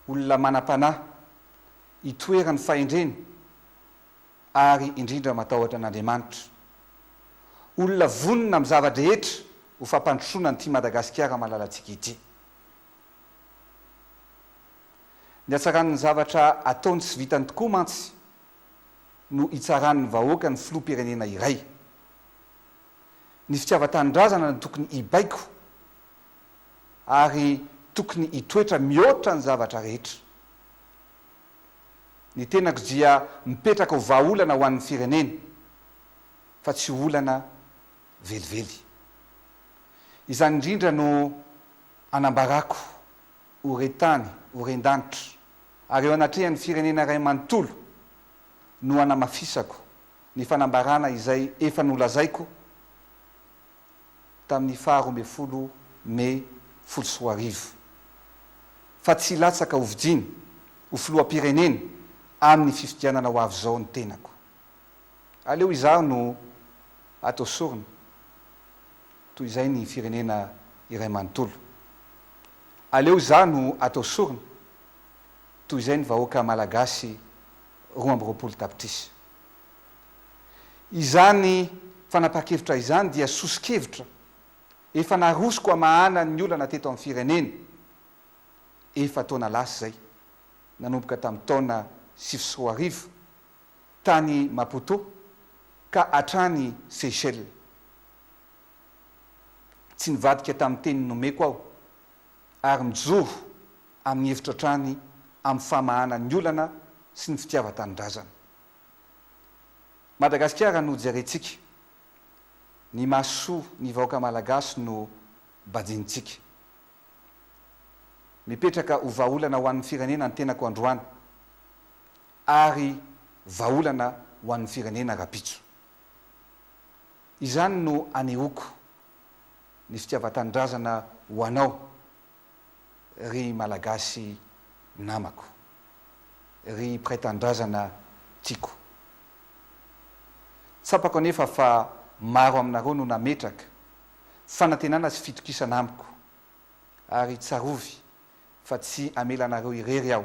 [SPEAKER 16] olona manam-panahy, itoeran'ny fahendrena ary indrindra matahotra an'Andriamanitra. Olona vonona amin'ny zava-drehetra ho fampandrosoana an'ity Madagasikara malalantsika ity. Ny hatsaran'ny zavatra ataony sy vitany tokoa mantsy no hitsaran'ny vahoaka ny filoham-pirenena iray. Ny fitiavan-tanindrazana no tokony hibaiko ary tokony hitoetra mihoatra ny zavatra rehetra. Ny tenako dia mipetraka ho vahaolana ho an'ny firenena fa tsy ho olana velively. Izany indrindra no anambarako. ho re-tany, ho ren-danitra, ary eo anatrehan'ny firenena iray manontolo no hanamafisako ny fanambarana izay efa nolazaiko tamin'ny faha roa ambin'ny folo Mey folo sy roa arivo, fa tsy hilatsaka hovidiana ho filoham-pirenena amin'ny fifidianana ho avy izao ny tenako. Aleo izaho no atao sorona toy izay ny firenena iray manontolo. Aleo izaho no atao sorona toy izay ny vahoaka malagasy roa amby roapolo tapitrisa. Izany fanapahan-kevitra izany dia soso-kevitra efa narosoko hamahana ny olana teto amin'ny firenena efa-taona lasa izay, nanomboka tamin'ny taona sivy sy roa arivo, tany Maputo ka hatrany Seychelles. Tsy nivadika tamin'ny teny nomeko aho ary mijoro amin'ny hevitro hatrany amin'ny famahana ny olana sy ny fitiavan-tanindrazana. Madagasikara no jerentsika, ny maha soa ny vahoaka malagasy no banjinintsika. Mipetraka ho vahaolana ho an'ny firenena ny tenako androany. ary vahaolana ho an'ny firenena rahampitso. Izany no anehoako ny fitiavan-tanindrazana ho anao ry Malagasy namako, ry mpiray tanindrazana tiako. Tsapako anefa fa maro aminareo no nametraka fanantenana sy fitokisana amiko ary tsarovy fa tsy hamela anareo irery aho.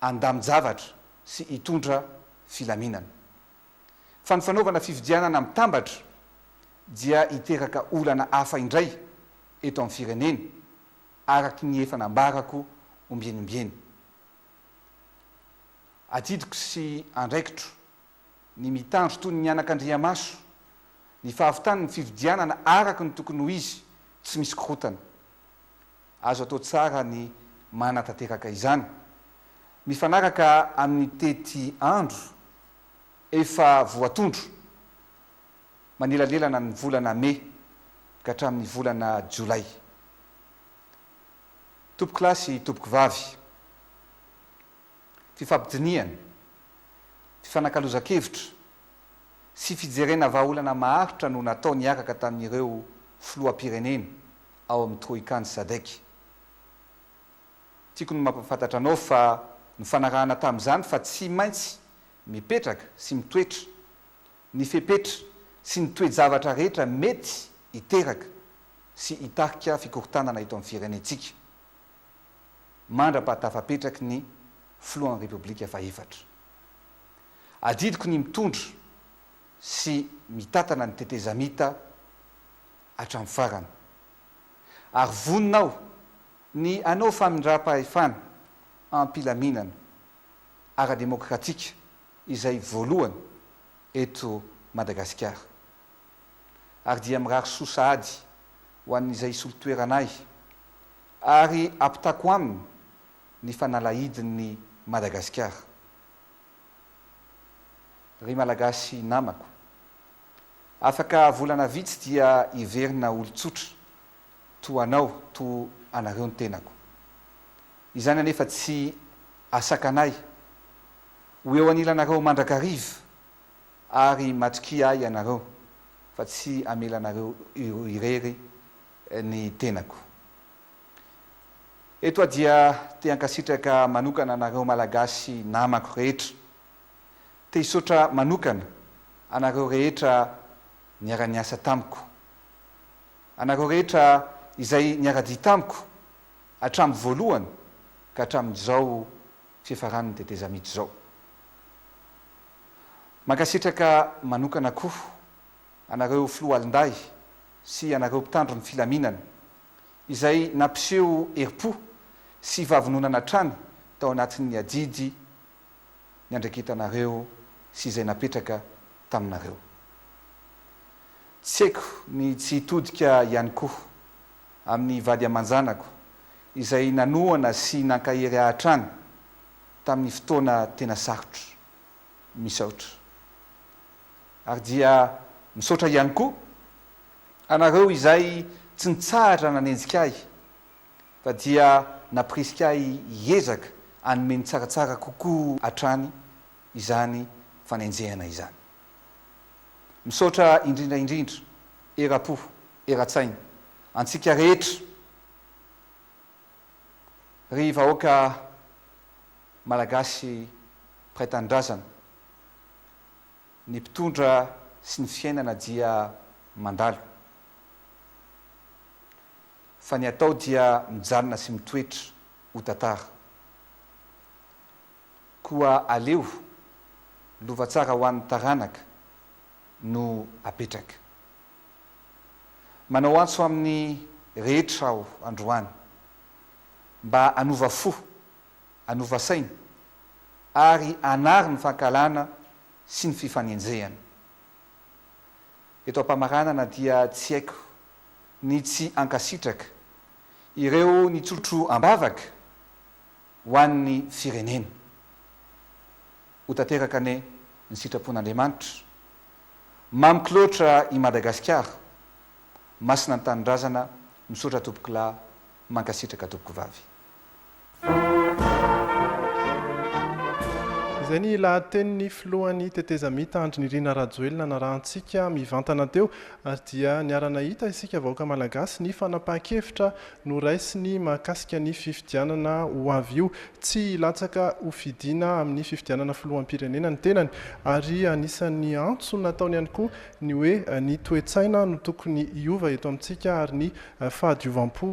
[SPEAKER 16] handamin-javatra sy hitondra filaminana. Fa ny fanaovana fifidianana mitambatra dia hiteraka olana hafa indray eto amin'ny firenena, araka ny efa nambarako ombieny ombieny. Adidiko sy andraikitro ny mitandro toy ny anakandriamaso ny fahavitan'ny fifidianana araka ny tokony ho izy, tsy misy korontana. Azo atao tsara ny manatanteraka izany. Mifanaraka amin'ny teti andro efa voatondro manelanelana ny volana mey ka hatramin'ny volana jiolay. Tompoko lahy sy tompoko vavy, fifampidinihana, fifanakalozan-kevitra sy fijerena vahaolana maharitra no natao niaraka tamin'ireo filoham-pirenena ao amin'ny Troika ny Sadec. Tiako ny mampahafantatra anao fa nifanarahana tamin'izany fa tsy maintsy mipetraka sy mitoetra ny fepetra sy ny toe-javatra rehetra mety hiteraka sy hitarika fikorontanana eto amin'ny firenentsika mandra-pahatafapetraky ny Filohan'ny Repoblika fahefatra. Adidiko ny mitondra sy mitantana ny tetezamita hatramin'ny farany. Ary vonona aho ny hanao famindram-pahefana am-pilaminana ara-demokratika izay voalohany eto Madagasikara. Ary dia mirary soa sahady ho an'izay hisolo toerana ahy ary hampitako aminy ny fanalahidin'ny Madagasikara. Ry Malagasy namako. Afaka volana vitsy dia hiverina olon-tsotra, toa anao, toa anareo ny tenako. Izany anefa tsy asakanay ho eo anilanareo mandrakariva ary matokia ahy ianareo fa tsy hamela anareo irery ny tenako. Eto aho dia te hankasitraka manokana anareo Malagasy namako rehetra. Te hisaotra manokana anareo rehetra niara-niasa tamiko. Anareo rehetra izay niara-dia tamiko hatramin'ny voalohany ka hatramin'izao fiafaran'ny tetezamita izao. Mankasitraka manokana koa anareo Filoha Alindahy sy anareo mpitandro ny filaminana izay nampiseho herim-po sy vavononana hatrany tao anatin'ny adidy niandraiketanareo sy izay napetraka taminareo. Tsy haiko ny tsy hitodika ihany koa amin'ny vady aman-janako izay nanohana sy nankahery ahy hatrany tamin'ny fotoana tena sarotra. Misaotra. Ary dia misaotra ihany koa Anareo izay tsy nitsahatra nanenjika ahy, fa dia nampirisika ahy hiezaka hanome ny tsaratsara kokoa hatrany izany fanenjehana izany. Misaotra indrindra indrindra, era-po, era-tsaina, antsika rehetra, ry vahoaka Malagasy mpiray tanindrazana. Ny mpitondra sy ny fiainana dia mandalo. Fa ny atao dia mijanona sy mitoetra ho tantara. Koa aleo lova tsara ho an'ny taranaka no apetraka. Manao antso amin'ny rehetra aho androany mba hanova fo hanova saina, ary hanary ny fankahalana sy ny fifanenjehana. Eto am-pamaranana dia tsy haiko ny tsy hankasitraka ireo nitsotro am-bavaka ho an'ny firenena. Ho tanteraka anie ny sitrapon'Andriamanitra. Mamiko loatra i Madagasikara. Masina ny Tanindrazana. Misaotra Tompokolahy. Mankasitraka tompoko vavy.
[SPEAKER 3] Izay ny lahatenin'ny filohan'ny tetezamita Andry Nirina Rajoelina narahantsika mivantana teo ary dia niara-nahita isika vahoaka malagasy ny fanapahan-kevitra noraisiny mahakasika ny fifidianana ho avy io. Tsy hilatsaka ho fidiana amin'ny fifidianana filoham-pirenena ny tenany ary anisan'ny antso nataony ihany koa ny hoe ny toe-tsaina no tokony hiova eto amintsika ary ny fahadiovam-po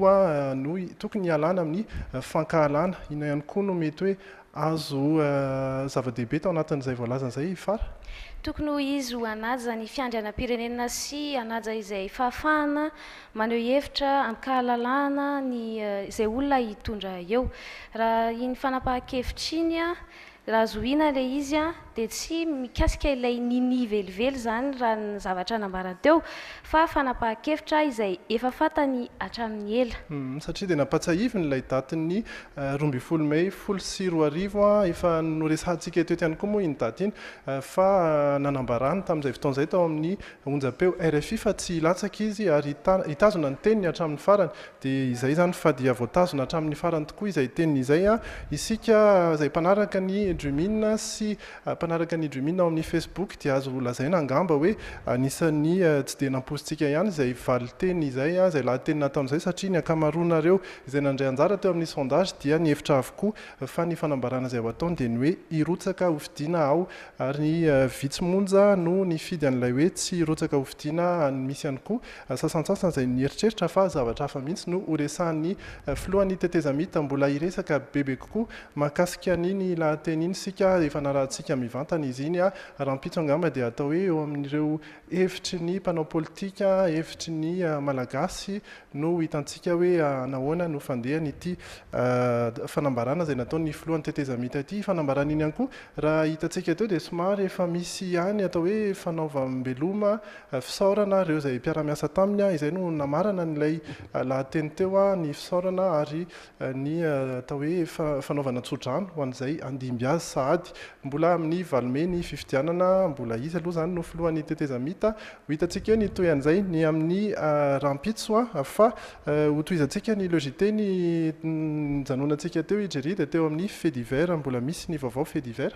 [SPEAKER 3] no tokony hialana amin'ny fankahalana. Inona ihany koa no mety hoe azo zava-dehibe tao anatin'izay voalazany izay i Fara? Tokony ho izy
[SPEAKER 4] ho hanaja ny fiandrianam-pirenena sy hanaja izay fahafahana maneho hevitra, ampikahalalahana ny izay olona hitondra eo. Raha iny fanapahan-kevitra iny Raha zohiana ilay izy dia tsy mikasika ilay Nini velively izany raha ny zavatra nambarany teo fa fanapahan-kevitra izay efa fantany hatramin'ny ela. Satria dia nampatsahiviny
[SPEAKER 3] ilay datin'ny roa ambin'ny folo mey folo sy roa arivo, efa noresahantsika eto eto ihany koa moa iny daty iny fa nanambarany tamin'izay fotoana izay tao amin'ny onjam-peo rfi fa tsy hilatsaka izy ary hitazona ny teniny hatramin'ny farany. Dia izay izany fa dia voatazona hatramin'ny farany tokoa izay teniny izay. Isika izay mpanaraka ny Dreaminn sy mpanaraka ny Dreaminn ao amin'ny Facebook dia azo lazaina angamba hoe anisan'ny tsy dia nampoizintsika ihany izay valinteny izay, izay lahateny nataony izay satria ny ankamaroanareo izay nandray anjara teo amin'ny sondage dia nihevitra avokoa fa ny fanambarana izay ho ataony dia ny hoe hirotsaka hofidiana ao ary vitsy monja no nifidy an'ilay hoe tsy hirotsaka hofidiana any misy ihany koa Sasantsasany izay nieritreritra fa zavatra hafa mihitsy no horesahan'ny filohan'ny tetezamita. Mbola hiresaka bebe kokoa mahakasika an'iny lahateny iny isika rehefa narahantsika mivantana izy iny. Rahampitso angamba dia atao hoe eo amin'ireo hevitry ny mpanao politika, hevitry ny Malagasy no ho hitantsika hoe nahoana no fandehany ity fanambarana izay nataon'ny filohan'ny tetezamita ity. Fanambarana iny ihany koa raha hitantsika teo dia somary efa misy ihany atao hoe fanaovam-beloma fisaorana ireo izay mpiara-miasa taminy, izay no namarana an'ilay lahateny teo, ny fisaorana ary ny atao hoe fanaovana tso-drano ho an'izay handimby azy sahady. Mbola amin'ny valo mey ny fifidianana, mbola izy aloha izany no filohan'ny tetezamita. Ho hitantsika eo ny toy an'izay ny amin'ny rahampitso fa hotohizantsika ny lgte ny nijanonantsika teo i Jerry dia teo amin'ny fait divers, mbola misy ny vaovao fait divers.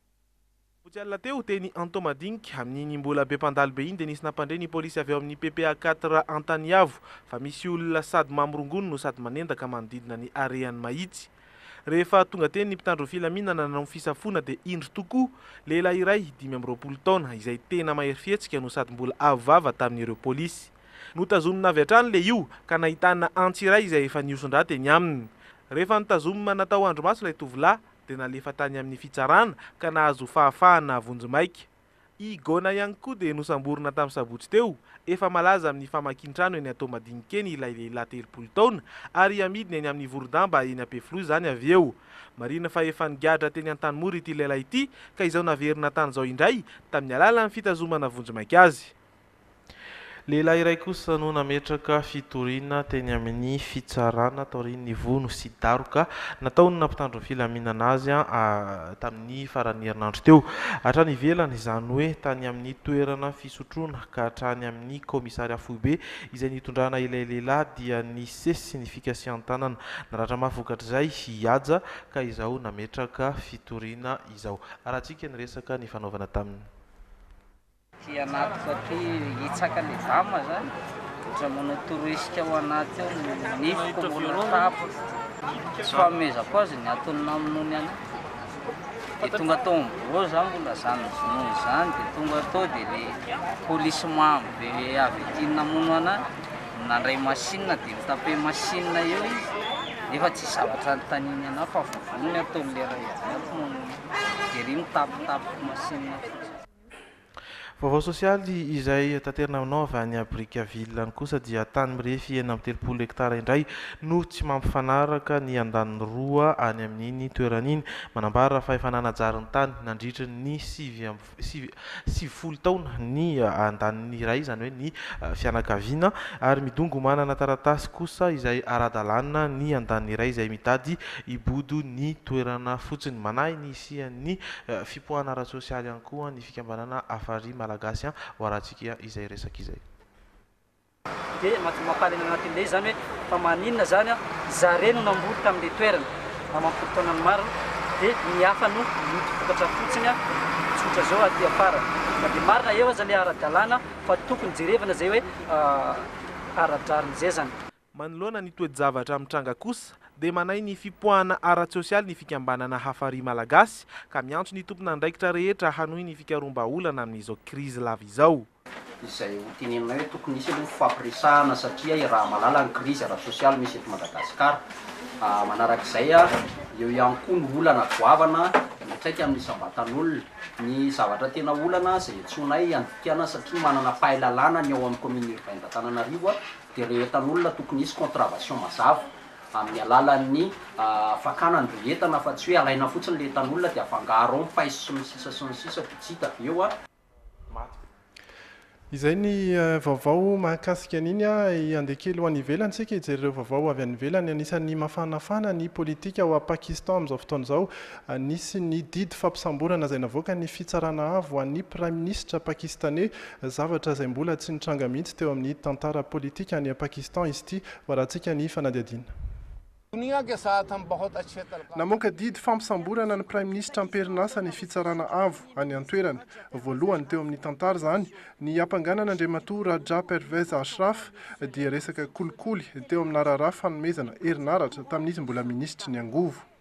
[SPEAKER 12] Vitsy alina teo, teny Antohomadinika, amin'iny mbola be mpandalo be iny dia nisy nampandre ny polisy avy ao amin'ny PPA quatre Antaniavo fa misy olona sady mamorongony no sady manendaka manodidina ny harehan'i Mahitsy. Rehefa tonga teny ny mpitandro ny filaminana nanao ny fisafoana dia indro tokoa lehilahy iray dimy amby roapolo taona izay tena mahery fihetsika no sady mbola avo vava tamin'ireo polisy. Notazomina avy hatrany le io ka nahitana antsy iray izay efa nihoson-drà teny aminy. Rehefa nitazomima natao andrimaso ilay tovolahy dia nalefa tany amin'ny fitsarana ka nahazo fahafahana vonjimaika. I Gona ihany koa dia nosamborina tamin'ny sabotsy teo. Efa malaza amin'ny famakian-trano eny Toamadinokeny ilay lehilahy telopolo taona ary hamidiny eny amin'ny voron-damba eny Ampefiloha izany avy eo. Marihina fa efa nigadra teny Antanimora ity lehilahy ity ka izao naverina tany izao indray tamin'ny alalan'ny fitazomana vonjimaika azy. Lehilahy iray kosa no nametraka fitoriana teny amin'ny fitsarana taorian'ny vono sy daroka nataon'na mpitandro ny filaminana azy tamin'ny faran'ny herinandro teo. Hatrany ivelany, izany hoe tany amin'ny toerana fisotroana ka hatrany amin'ny kaomisaria foibe izay nitondrana ilay lehilahy dia nisesy ny fikasihan-tanana. Naratra mafy vokatr'izay i Haja ka izao nametraka fitoriana izao. Harahantsika ny resaka nifanaovana taminy. Aty
[SPEAKER 17] anatiko aty hitsaka le dama zany ohatran'ny manao torohesika ao anaty ao ny nifiko mbola tapa. Tsy fanomezako azy ny antony namonoany anay. Dia tonga tao amin'ny birao za mbola zany nivonona izany dia tonga tao dia le polisy mamo be avy aty namono anay nandray machine dia nitape machine eo izy nefa tsy hisy zavatra anontaniany anay fa vovonony ataony le ray avy ato mamono anay. Dia ery mitapitapy machine fotsiny.
[SPEAKER 12] Vaovao sosialy izay taterina aminao avy any à Brickaville any kosa dia tany mirefy enina amby telopolo hektara indray no tsy mampifanaraka ny andaniny roa any amin'iny toerana iny. Manambara fa efa nanajary ny tany nandritry ny sivy sivifolo taona ny andaniny iray izany hoe ny fianakaviana ary midongy ho manana taratasy kosa izay ara-dalàna ny andaniny iray izay mitady hibodo ny toerana fotsiny. Manahy ny Nisian'ny fipoahana ara-tsosialy ihany koa ny fikambanana Afari Malagasy ho Haratsikia izay resaka izay.
[SPEAKER 18] Dia madio mampaly any anaty lay izany hoe fa maninona izany, zareo no namboly tamin'ilay toerana aman polon-taonany maro dia ny hafa no mitopokatra fotsiny, tsotra izao aty afara. Na dia marina eo aza ilay ara-dalàna fa tokony jerevana izay hoe ara-drariny izay izany. Manoloana ny
[SPEAKER 12] toe-javatra mitranga kosa dia manahy ny fipoahana ara-tsosialy ny fikambanana Hafari Malagasy ka miantso ny tompon'andraikitra rehetra hanohy ny fikaroham-bahaolana amin'izao krizy lava izao. Izay ho
[SPEAKER 19] tenenina eo tokony hisy aloha fifampiresahana satria iaraha malala ny krizy ara-tsosialy misy eto Madagasikara. Manarak'izay eo ihany koa ny olana goavana miantraika amin'ny isam-batan'olona. Ny zavatra tena olana izay antsoinay handikana satria manana pahilalana ny ao amin'ny Commune Urbaine d'Antananarivo Dia rehetra ny olona tokony hisy contravation mazava amin'ny alalan'ny fakana an'ireo entana fa tsy hoe alaina fotsiny ilay entan'olona dia afangaro ao ny paiso sy ny sisa sy ny sisa dia tsy hita avy eo
[SPEAKER 3] an. Izay ny vaovao mahakasika an'iny a. Handeha kely ho any ivelany isika hijery ireo vaovao avy any ivelany. Anisan'ny mafanafana ny politika ao Pakistan amin'izao fotoana izao. Anisy ny didy fampisamborana izay navoakan'ny Fitsarana Avo ho an'ny Praiminisitra Pakistaney, zavatra izay mbola tsy nitranga mihitsy teo amin'ny tantara politika any Pakistan izy ity, varatsika ny fanadihadiana. Namoaka didy fampisamborana ny Praiminisitra am-perinasa ny Fitsarana Avo any an-toerana. Voalohany teo amin'ny tantara izany, ny hampanganana Andriamatoa Raja Pervez Ashraf dia resaka kolikoly teo aminà raharaha fanomezana herinaratra tamin'izy mbola Minisitry ny Angovo.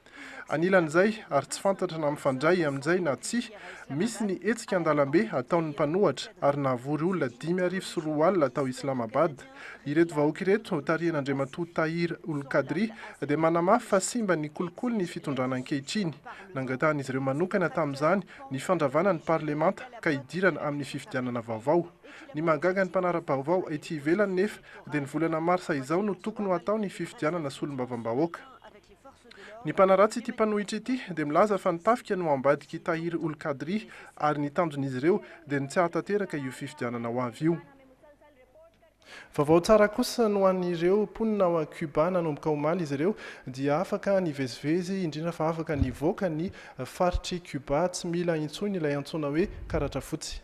[SPEAKER 3] Anilan'izay, ary tsy fantatra na mifandray amin'izay na tsia, misy ny hetsika an-dalambe ataon'ny mpanohatra ary nahavory olona dimy arivo sy roa alina tao Islamabad. Ireto vahoaka ireto, tarihin'Andriamatoa Tahir ul Qadri, dia manamafy fa simba ny kolikoly ny fitondrana ankehitriny. Nangatahan'izy ireo manokana tamin'izany ny fandravana ny parlemanta ka hidirana amin'ny fifidianana vaovao. Ny mahagaga ny mpanara-baovao ety ivelany nefa dia ny volana marsa izao no tokony ho atao ny fifidianana solombavambahoaka. Ny mpanaratsy ity mpanohitra ity dia milaza fa ny tafika no ambadik'i Tahir Ol Qadri ary ny tanjon'izy ireo dia ny tsy hahatanteraka io fifidianana ho avy io. Vaovao tsara kosa no an'ireo mponina ao Cuba, nanomboka omaly izy ireo dia afaka nivezivezy indrindra fa afaka nivoaka ny faritr'i Cuba, tsy mila intsony ilay antsoina hoe karatra fotsy.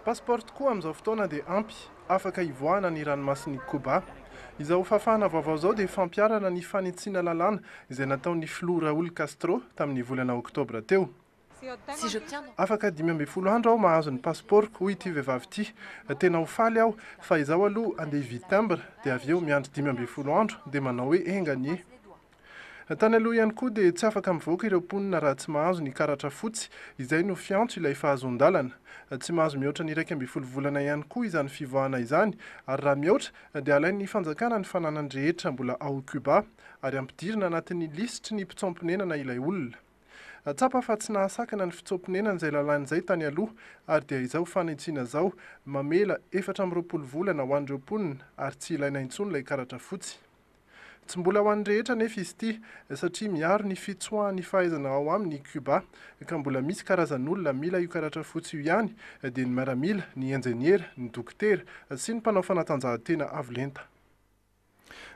[SPEAKER 3] Passeport tokoa amin'izao fotoana dia ampy afaka hivoahana ny ranomasin'i Koba. Izao fahafahana vaovao izao dia fampiharana ny fanitsiana lalàna izay nataon'ny filoha Raul Castro tamin'ny volana oktobra teo. Afaka dimy ambin'ny folo andro aho mahazo ny pasipaoroko, hoy ity vehivavy ity. Tena ho faly aho, fa izaho aloha andeha hividy timbre dia avy eo miandry dimy ambin'ny folo andro dia manao hoe enga anie. Tany aloha ihany koa dia tsy afaka mivoaka ireo mponina raha tsy mahazo ny karatra fotsy, izay no fiantso ilay fahazoan-dalana. Tsy mahazo mihoatra ny iraika ambin'ny folo volana ihany koa izany fivoahana izany, ary raha mihoatra dia alain'ny fanjakana ny fananany rehetra mbola ao Cuba, ary ampidirina anatin'ny lisitry ny mpitsoam-ponenana ilay olona. Tsapa fa tsy nahasakana ny fitsoam-ponenana izay lalàna izay tany aloha, ary dia izao fanitsiana izao mamela efatra amby roapolo volana ho an'ireo mponina ary tsy ilaina intsony ilay karatra fotsy. Tsy mbola ho an'ny rehetra anefa izy ity, satria miaro ny fitsoahan'ny fahaizana ao aminy i Cuba, ka mbola misy karazan'olona mila io karatra fotsy io ihany, dia ny miaramila, ny injeniera, ny dokotera, sy ny mpanao fanatanjahantena avo lenta.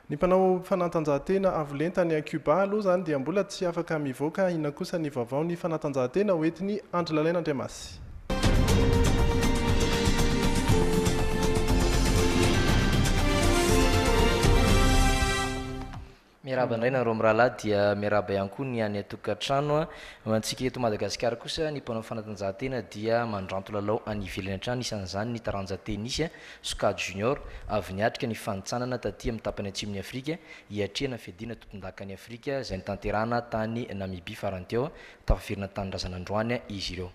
[SPEAKER 3] Ny mpanao fanatanjahantena avo lenta any Cuba aloha izany dia mbola tsy afaka mivoaka, inona kosa ny vaovao ny fanatanjahantena hoentiny Andry Lalaina Andriamasy?
[SPEAKER 10] Miarahaba indray nareo mirahalahy dia miarahaba ihany koa ny any an-tokantrano. Antsika eto Madagasikara kosa ny mpanao fanatanjahantena dia mandranto lalao any ivelany hatrany, isan'izany ny taranja tenisy sokajy junior. Avy niatrika ny fanintsanana taty amin'ny tapany atsimon'i Afrika hiatrehana fiadiana tompondaka an'i Afrika izay notanterahana tany Namibia farany teo tafaverina an-tanindrazana androany izy ireo.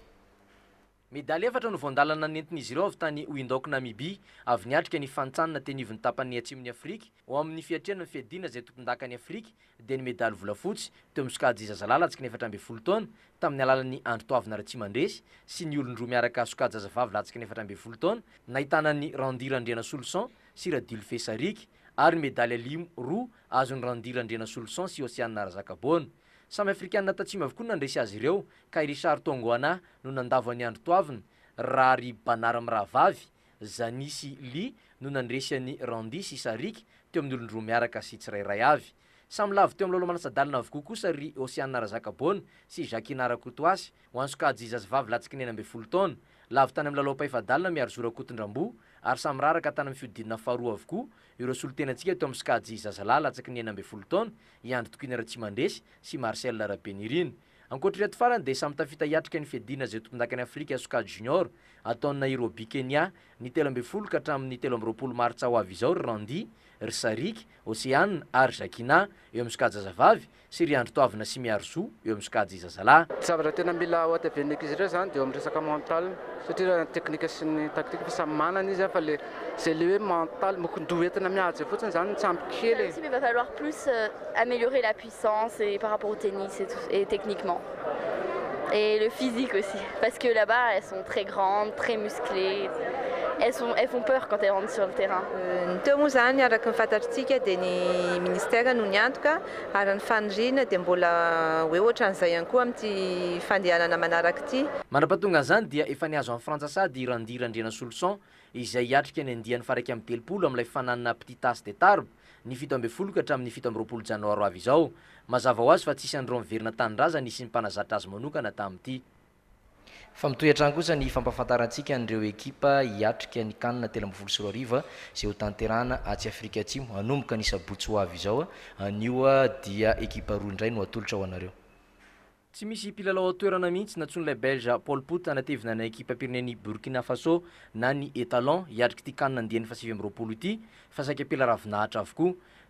[SPEAKER 10] Medaly efatra no voandalana nentin'izy ireo avy tany Windhoek Namibia, avy niatrika ny fantsanana teny ivon'ny tapanin'ny Atsimon'i Afrika, ao amin'ny fiatrehana ny fiadiana izay tompondakan'i Afrika, dia ny medaly volafotsy, teo amin'ny sokajy zazalahy latsaky ny efatra ambin'ny folo taona, tamin'ny alalan'i Andritoavina Ratsimandresy, sy ny olon-droa miaraka sokajy zazavavy latsaky ny efatra ambin'ny folo taona, nahitana an'i Randy Randrianasoloson sy Radilfe Sarika, ary ny medaly alimo roa, azon'i Randy Randrianasoloson sy Oceana Razakaboana. Samy Afrikana Tatsimo avokoa no nandresy azy ireo ka i Richard Tongoana no nandavo an'i Andry Toavina, raha ry Banara mirahavavy, Zani sy Li no nandresy an'i Randy sy Sariky teo amin'ny olon-droa miaraka sy tsirairay avy. Samy lavo teo amin'ny Laolo Manasa-dalana avokoa kosa ry Osiana Razakaboana sy Jacquina Rakotoasy ho an'i Sokajy zazavavy latsaka enina ambin'ny folo taona. Lavo tany amin'ny Lalao Mpahefa-dalana Miarizora Kotondramboa ary samy miraraka tany amin'ny fihodinana faharoa avokoa Ireo solontenantsika teo amin'ny sokajy zazalahy latsaky ny enina ambin'ny folo taona, i Andry Tokiana Ratsimandresy sy i Marcel Rabenirina. Ankoatr'ireto farany dia samy tafita hiatrika ny fiadiana izay tompondakan'i Afrika sokajy junior ataon'i Nairobi Kenya ny telo ambin'ny folo ka hatramin'ny telo amby roapolo martsa ho avy izao ry Randy, ry Saric, Oceane ary Jacquina eo amin'ny sokajy zazavavy sy ry Andry Toavina sy Miaro Zo eo amin'ny sokajy zazalahy. Ny zavatra tena mila
[SPEAKER 1] ohateven'ny ankizy indray zany de eo amin'ny resaka mental satria raha ny teknika sy ny taktika efa samy manana izy an fa le zay le hoe mental mokon-doha entina mihaja fotsiny zany no tsy ampy kely e. Aussi mais va falloir plus
[SPEAKER 2] ameliorer la puissance et par rapport au tennis et tout et techniquement et le physique aussi parce que là bas elles sont très grandes très musclées elles sont elles font peur quand elles rentrent sur le terrain. Ny teo moa izany
[SPEAKER 20] araka ny fantatritsika dia ny ministera no niantoka Ary ny faniriana dia mbola ho eo ohatran'izay ihany koa amin'ity fandehanana manaraka ity. Mandra-pahatonga an'izany dia
[SPEAKER 10] efa nihazo an'i Frantsa sahady i Randy Randrianasoloson izay hiatrika ny andiany faharaika amby telopolo amin'ilay fananina Petit As de Tarbes ny fito ambin'ny folo ka hatramin'ny fito amby roapolo janoary ho avy izao. Mazava ho azy fa tsy isan'ireo miverina an-tanindrazany sy ny mpanazatra azy manokana tamin'ity. Fa mitohy hatrany kosa ny fampahafantarantsika an'ireo ekipa hiatrika ny Can telo ambin'ny folo sy roa arivo izay ho tanterahana atsy Afrika Atsimo hanomboka ny sabotsy ho avy izao. Anio dia ekipa roa indray no atolotra ho anareo. Tsy misy mpilalao ao toerana mihitsy nantsoin'ilay Belge Paul Put hanatevina ny ekipam-pirenen'i Burkina Faso na ny Etalons hiatrik'ity Can andiany fahasivy amby roapolo ity fa saika ampela ravinahitra avokoa.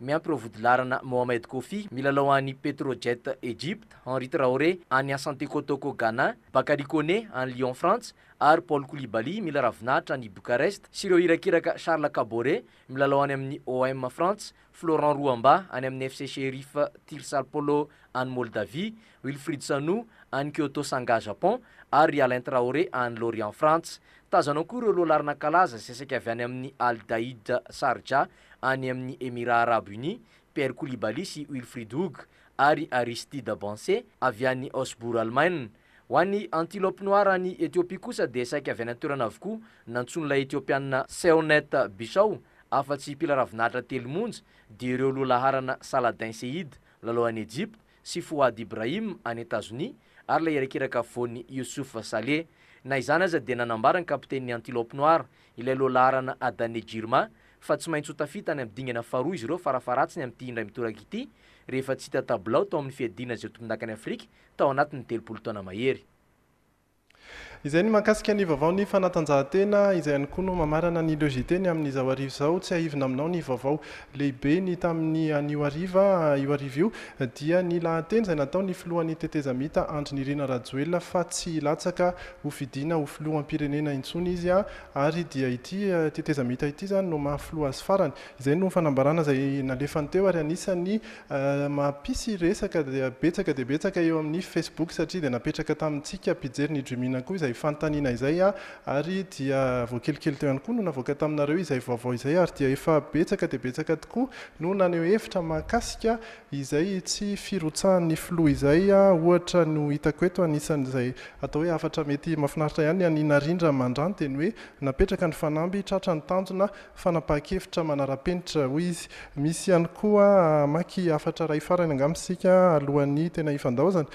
[SPEAKER 10] Miampy ireo vodilaharana Mohamed Koffi, milalao any Petrojet Egypte, Henri Traoré, any Asante Kotoko, Ghana, Bakary Koné, any Lyon, Frantsa, ary Paul Koulibaly, mila ravinahitra any Bucarest, sy ireo irakiraka Charles Kabore, milalao any amin'ny OM Frantsa, Florent Ruamba, any amin'ny FC Sheriff Tirsalpolo, any Moldavia, Wilfried Sanu, any Kyoto Sanga, Japon, ary ry Alain Traoré, any Lorient, Frantsa. Tazanao koa ireo lohalaharana kalaza seseka avy any amin'ny Al Dahid Sharjah, any amin'ny Emirà Arabo Unis, Pierre Koulibaly sy Wilfried Hug ary Aristide Bancé avy any Osbourg Alemaina. Ho an'ny Antilope Noir any Ethiopie kosa dia saika avy any an-toerana avokoa nantsoin'ilay Ethiopiana Seonet Bishaw afa-tsy mpila ravin'ahitra telo monja dia ireo loha laharana Saladin Seyid, lalao any Ejipta, sy Fouad Ibrahim any Etazonia ary ilay irakiraka afovoany Youssouf Saleh. Na izany aza dia nanambara ny kapitenin'ny Antilope Noire, ilay lohalaharana Adane Jirma, fa tsy maintsy ho tafita any amin'ny dingana faharoa izy ireo farafaharatsiny amin'ity indray mitoraka ity rehefa tsy hita tabilao tao amin'ny fiadiana izay tompondakan'i Afrika tao anatin'ny telopolo taona mahery.
[SPEAKER 3] Izay ny mahakasika ny vaovaon'ny fanatanjahantena, izay ihany koa no mamarana ny logiteny amin'izao hariva izao. Tsiahivina aminao ny vaovao lehibe ny tamin'ny anio hariva. Io hariva io dia ny lahateny izay nataon'ny filohan'ny tetezamita Andry Nirina Rajoelina fa tsy hilatsaka ho fidiana ho filoham-pirenena intsony izy ary dia ity tetezamita ity izany no maha filoha azy farany Izay no fanambarana izay nalefany teo ary anisan'ny mampisy resaka betsaka dia betsaka eo amin'ny Facebook satria dia napetraka tamintsika mpijery ny Dreamina koa izay fanontaniana izay ary dia vao kelikely teo ihany koa no navoaka taminareo izay vaovao izay ary dia efa betsaka dia betsaka tokoa no naneho hevitra mahakasika izay tsy firotsahan'ny filoha izay ohatra no hitako eto anisan'izay atao hoe hafatra mety mafinaritra ihany ny an'i Narindra Mandranty dia ny hoe napetraka ny fanamby tratra ny tanjona Fanapahan-kevitra manara-penitra, hoy izy. Misy ihany koa hamaky hafatra iray farany angamba isika alohan'ny tena hifandaozana,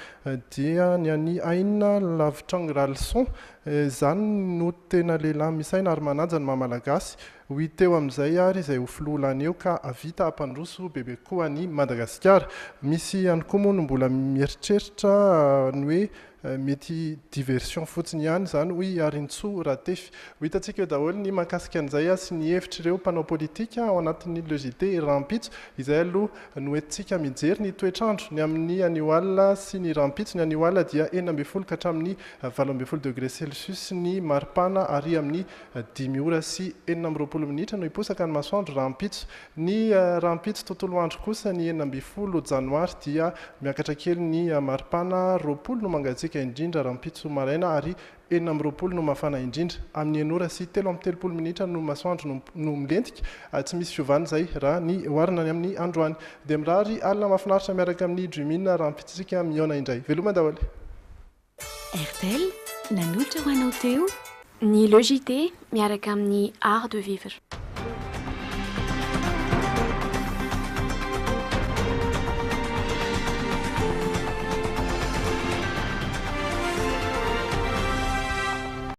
[SPEAKER 3] dia ny an'i Aina Lavitrang Ralison. Izany no tena lehilahy misaina ary manaja ny maha-malagasy. Ho hita eo amin'izay ary izay ho filoha lany eo ka hahavita hampandroso bebe koa an'i Madagasikara. Misy ihany koa moa no mbola mieritreritra ny hoe Mety diversion fotsiny ihany izany hoy i Arintsoa Ratefy. Ho hitantsika eo daholo ny mahakasika an'izay sy ny hevitr'ireo mpanao politika ao anatin'ny Le JT rahampitso. Izay aloha no entintsika mijery ny toetr'andro ny amin'ny anio alina sy ny rahampitso. Ny anio alina dia enina ambin'ny folo ka hatramin'ny valo ambin'ny folo degré celsius ny maripana ary amin'ny dimy ora sy enina amby roapolo minitra no hiposaka ny masoandro rahampitso. Ny rahampitso tontolo andro kosa, ny enina ambin'ny folo janoary, dia miakatra kely ny maripana, roapolo no mangatsiaka indrindra rahampitso maraina ary enina amby roapolo no mafana indrindra. Amin'ny enina ora sy telo amby telopolo minitra no masoandro no no milentika, tsy misy fiovana izay raha ny oharina ny amin'ny androany. Dia mirary alina mahafinaritra miaraka amin'ny Dream In rahampitso isika mihaona indray. Veloma daholo e!
[SPEAKER 5] Airtel nanolotra ho anao teo. Ny Le JT miaraka amin'ny Art de vivre.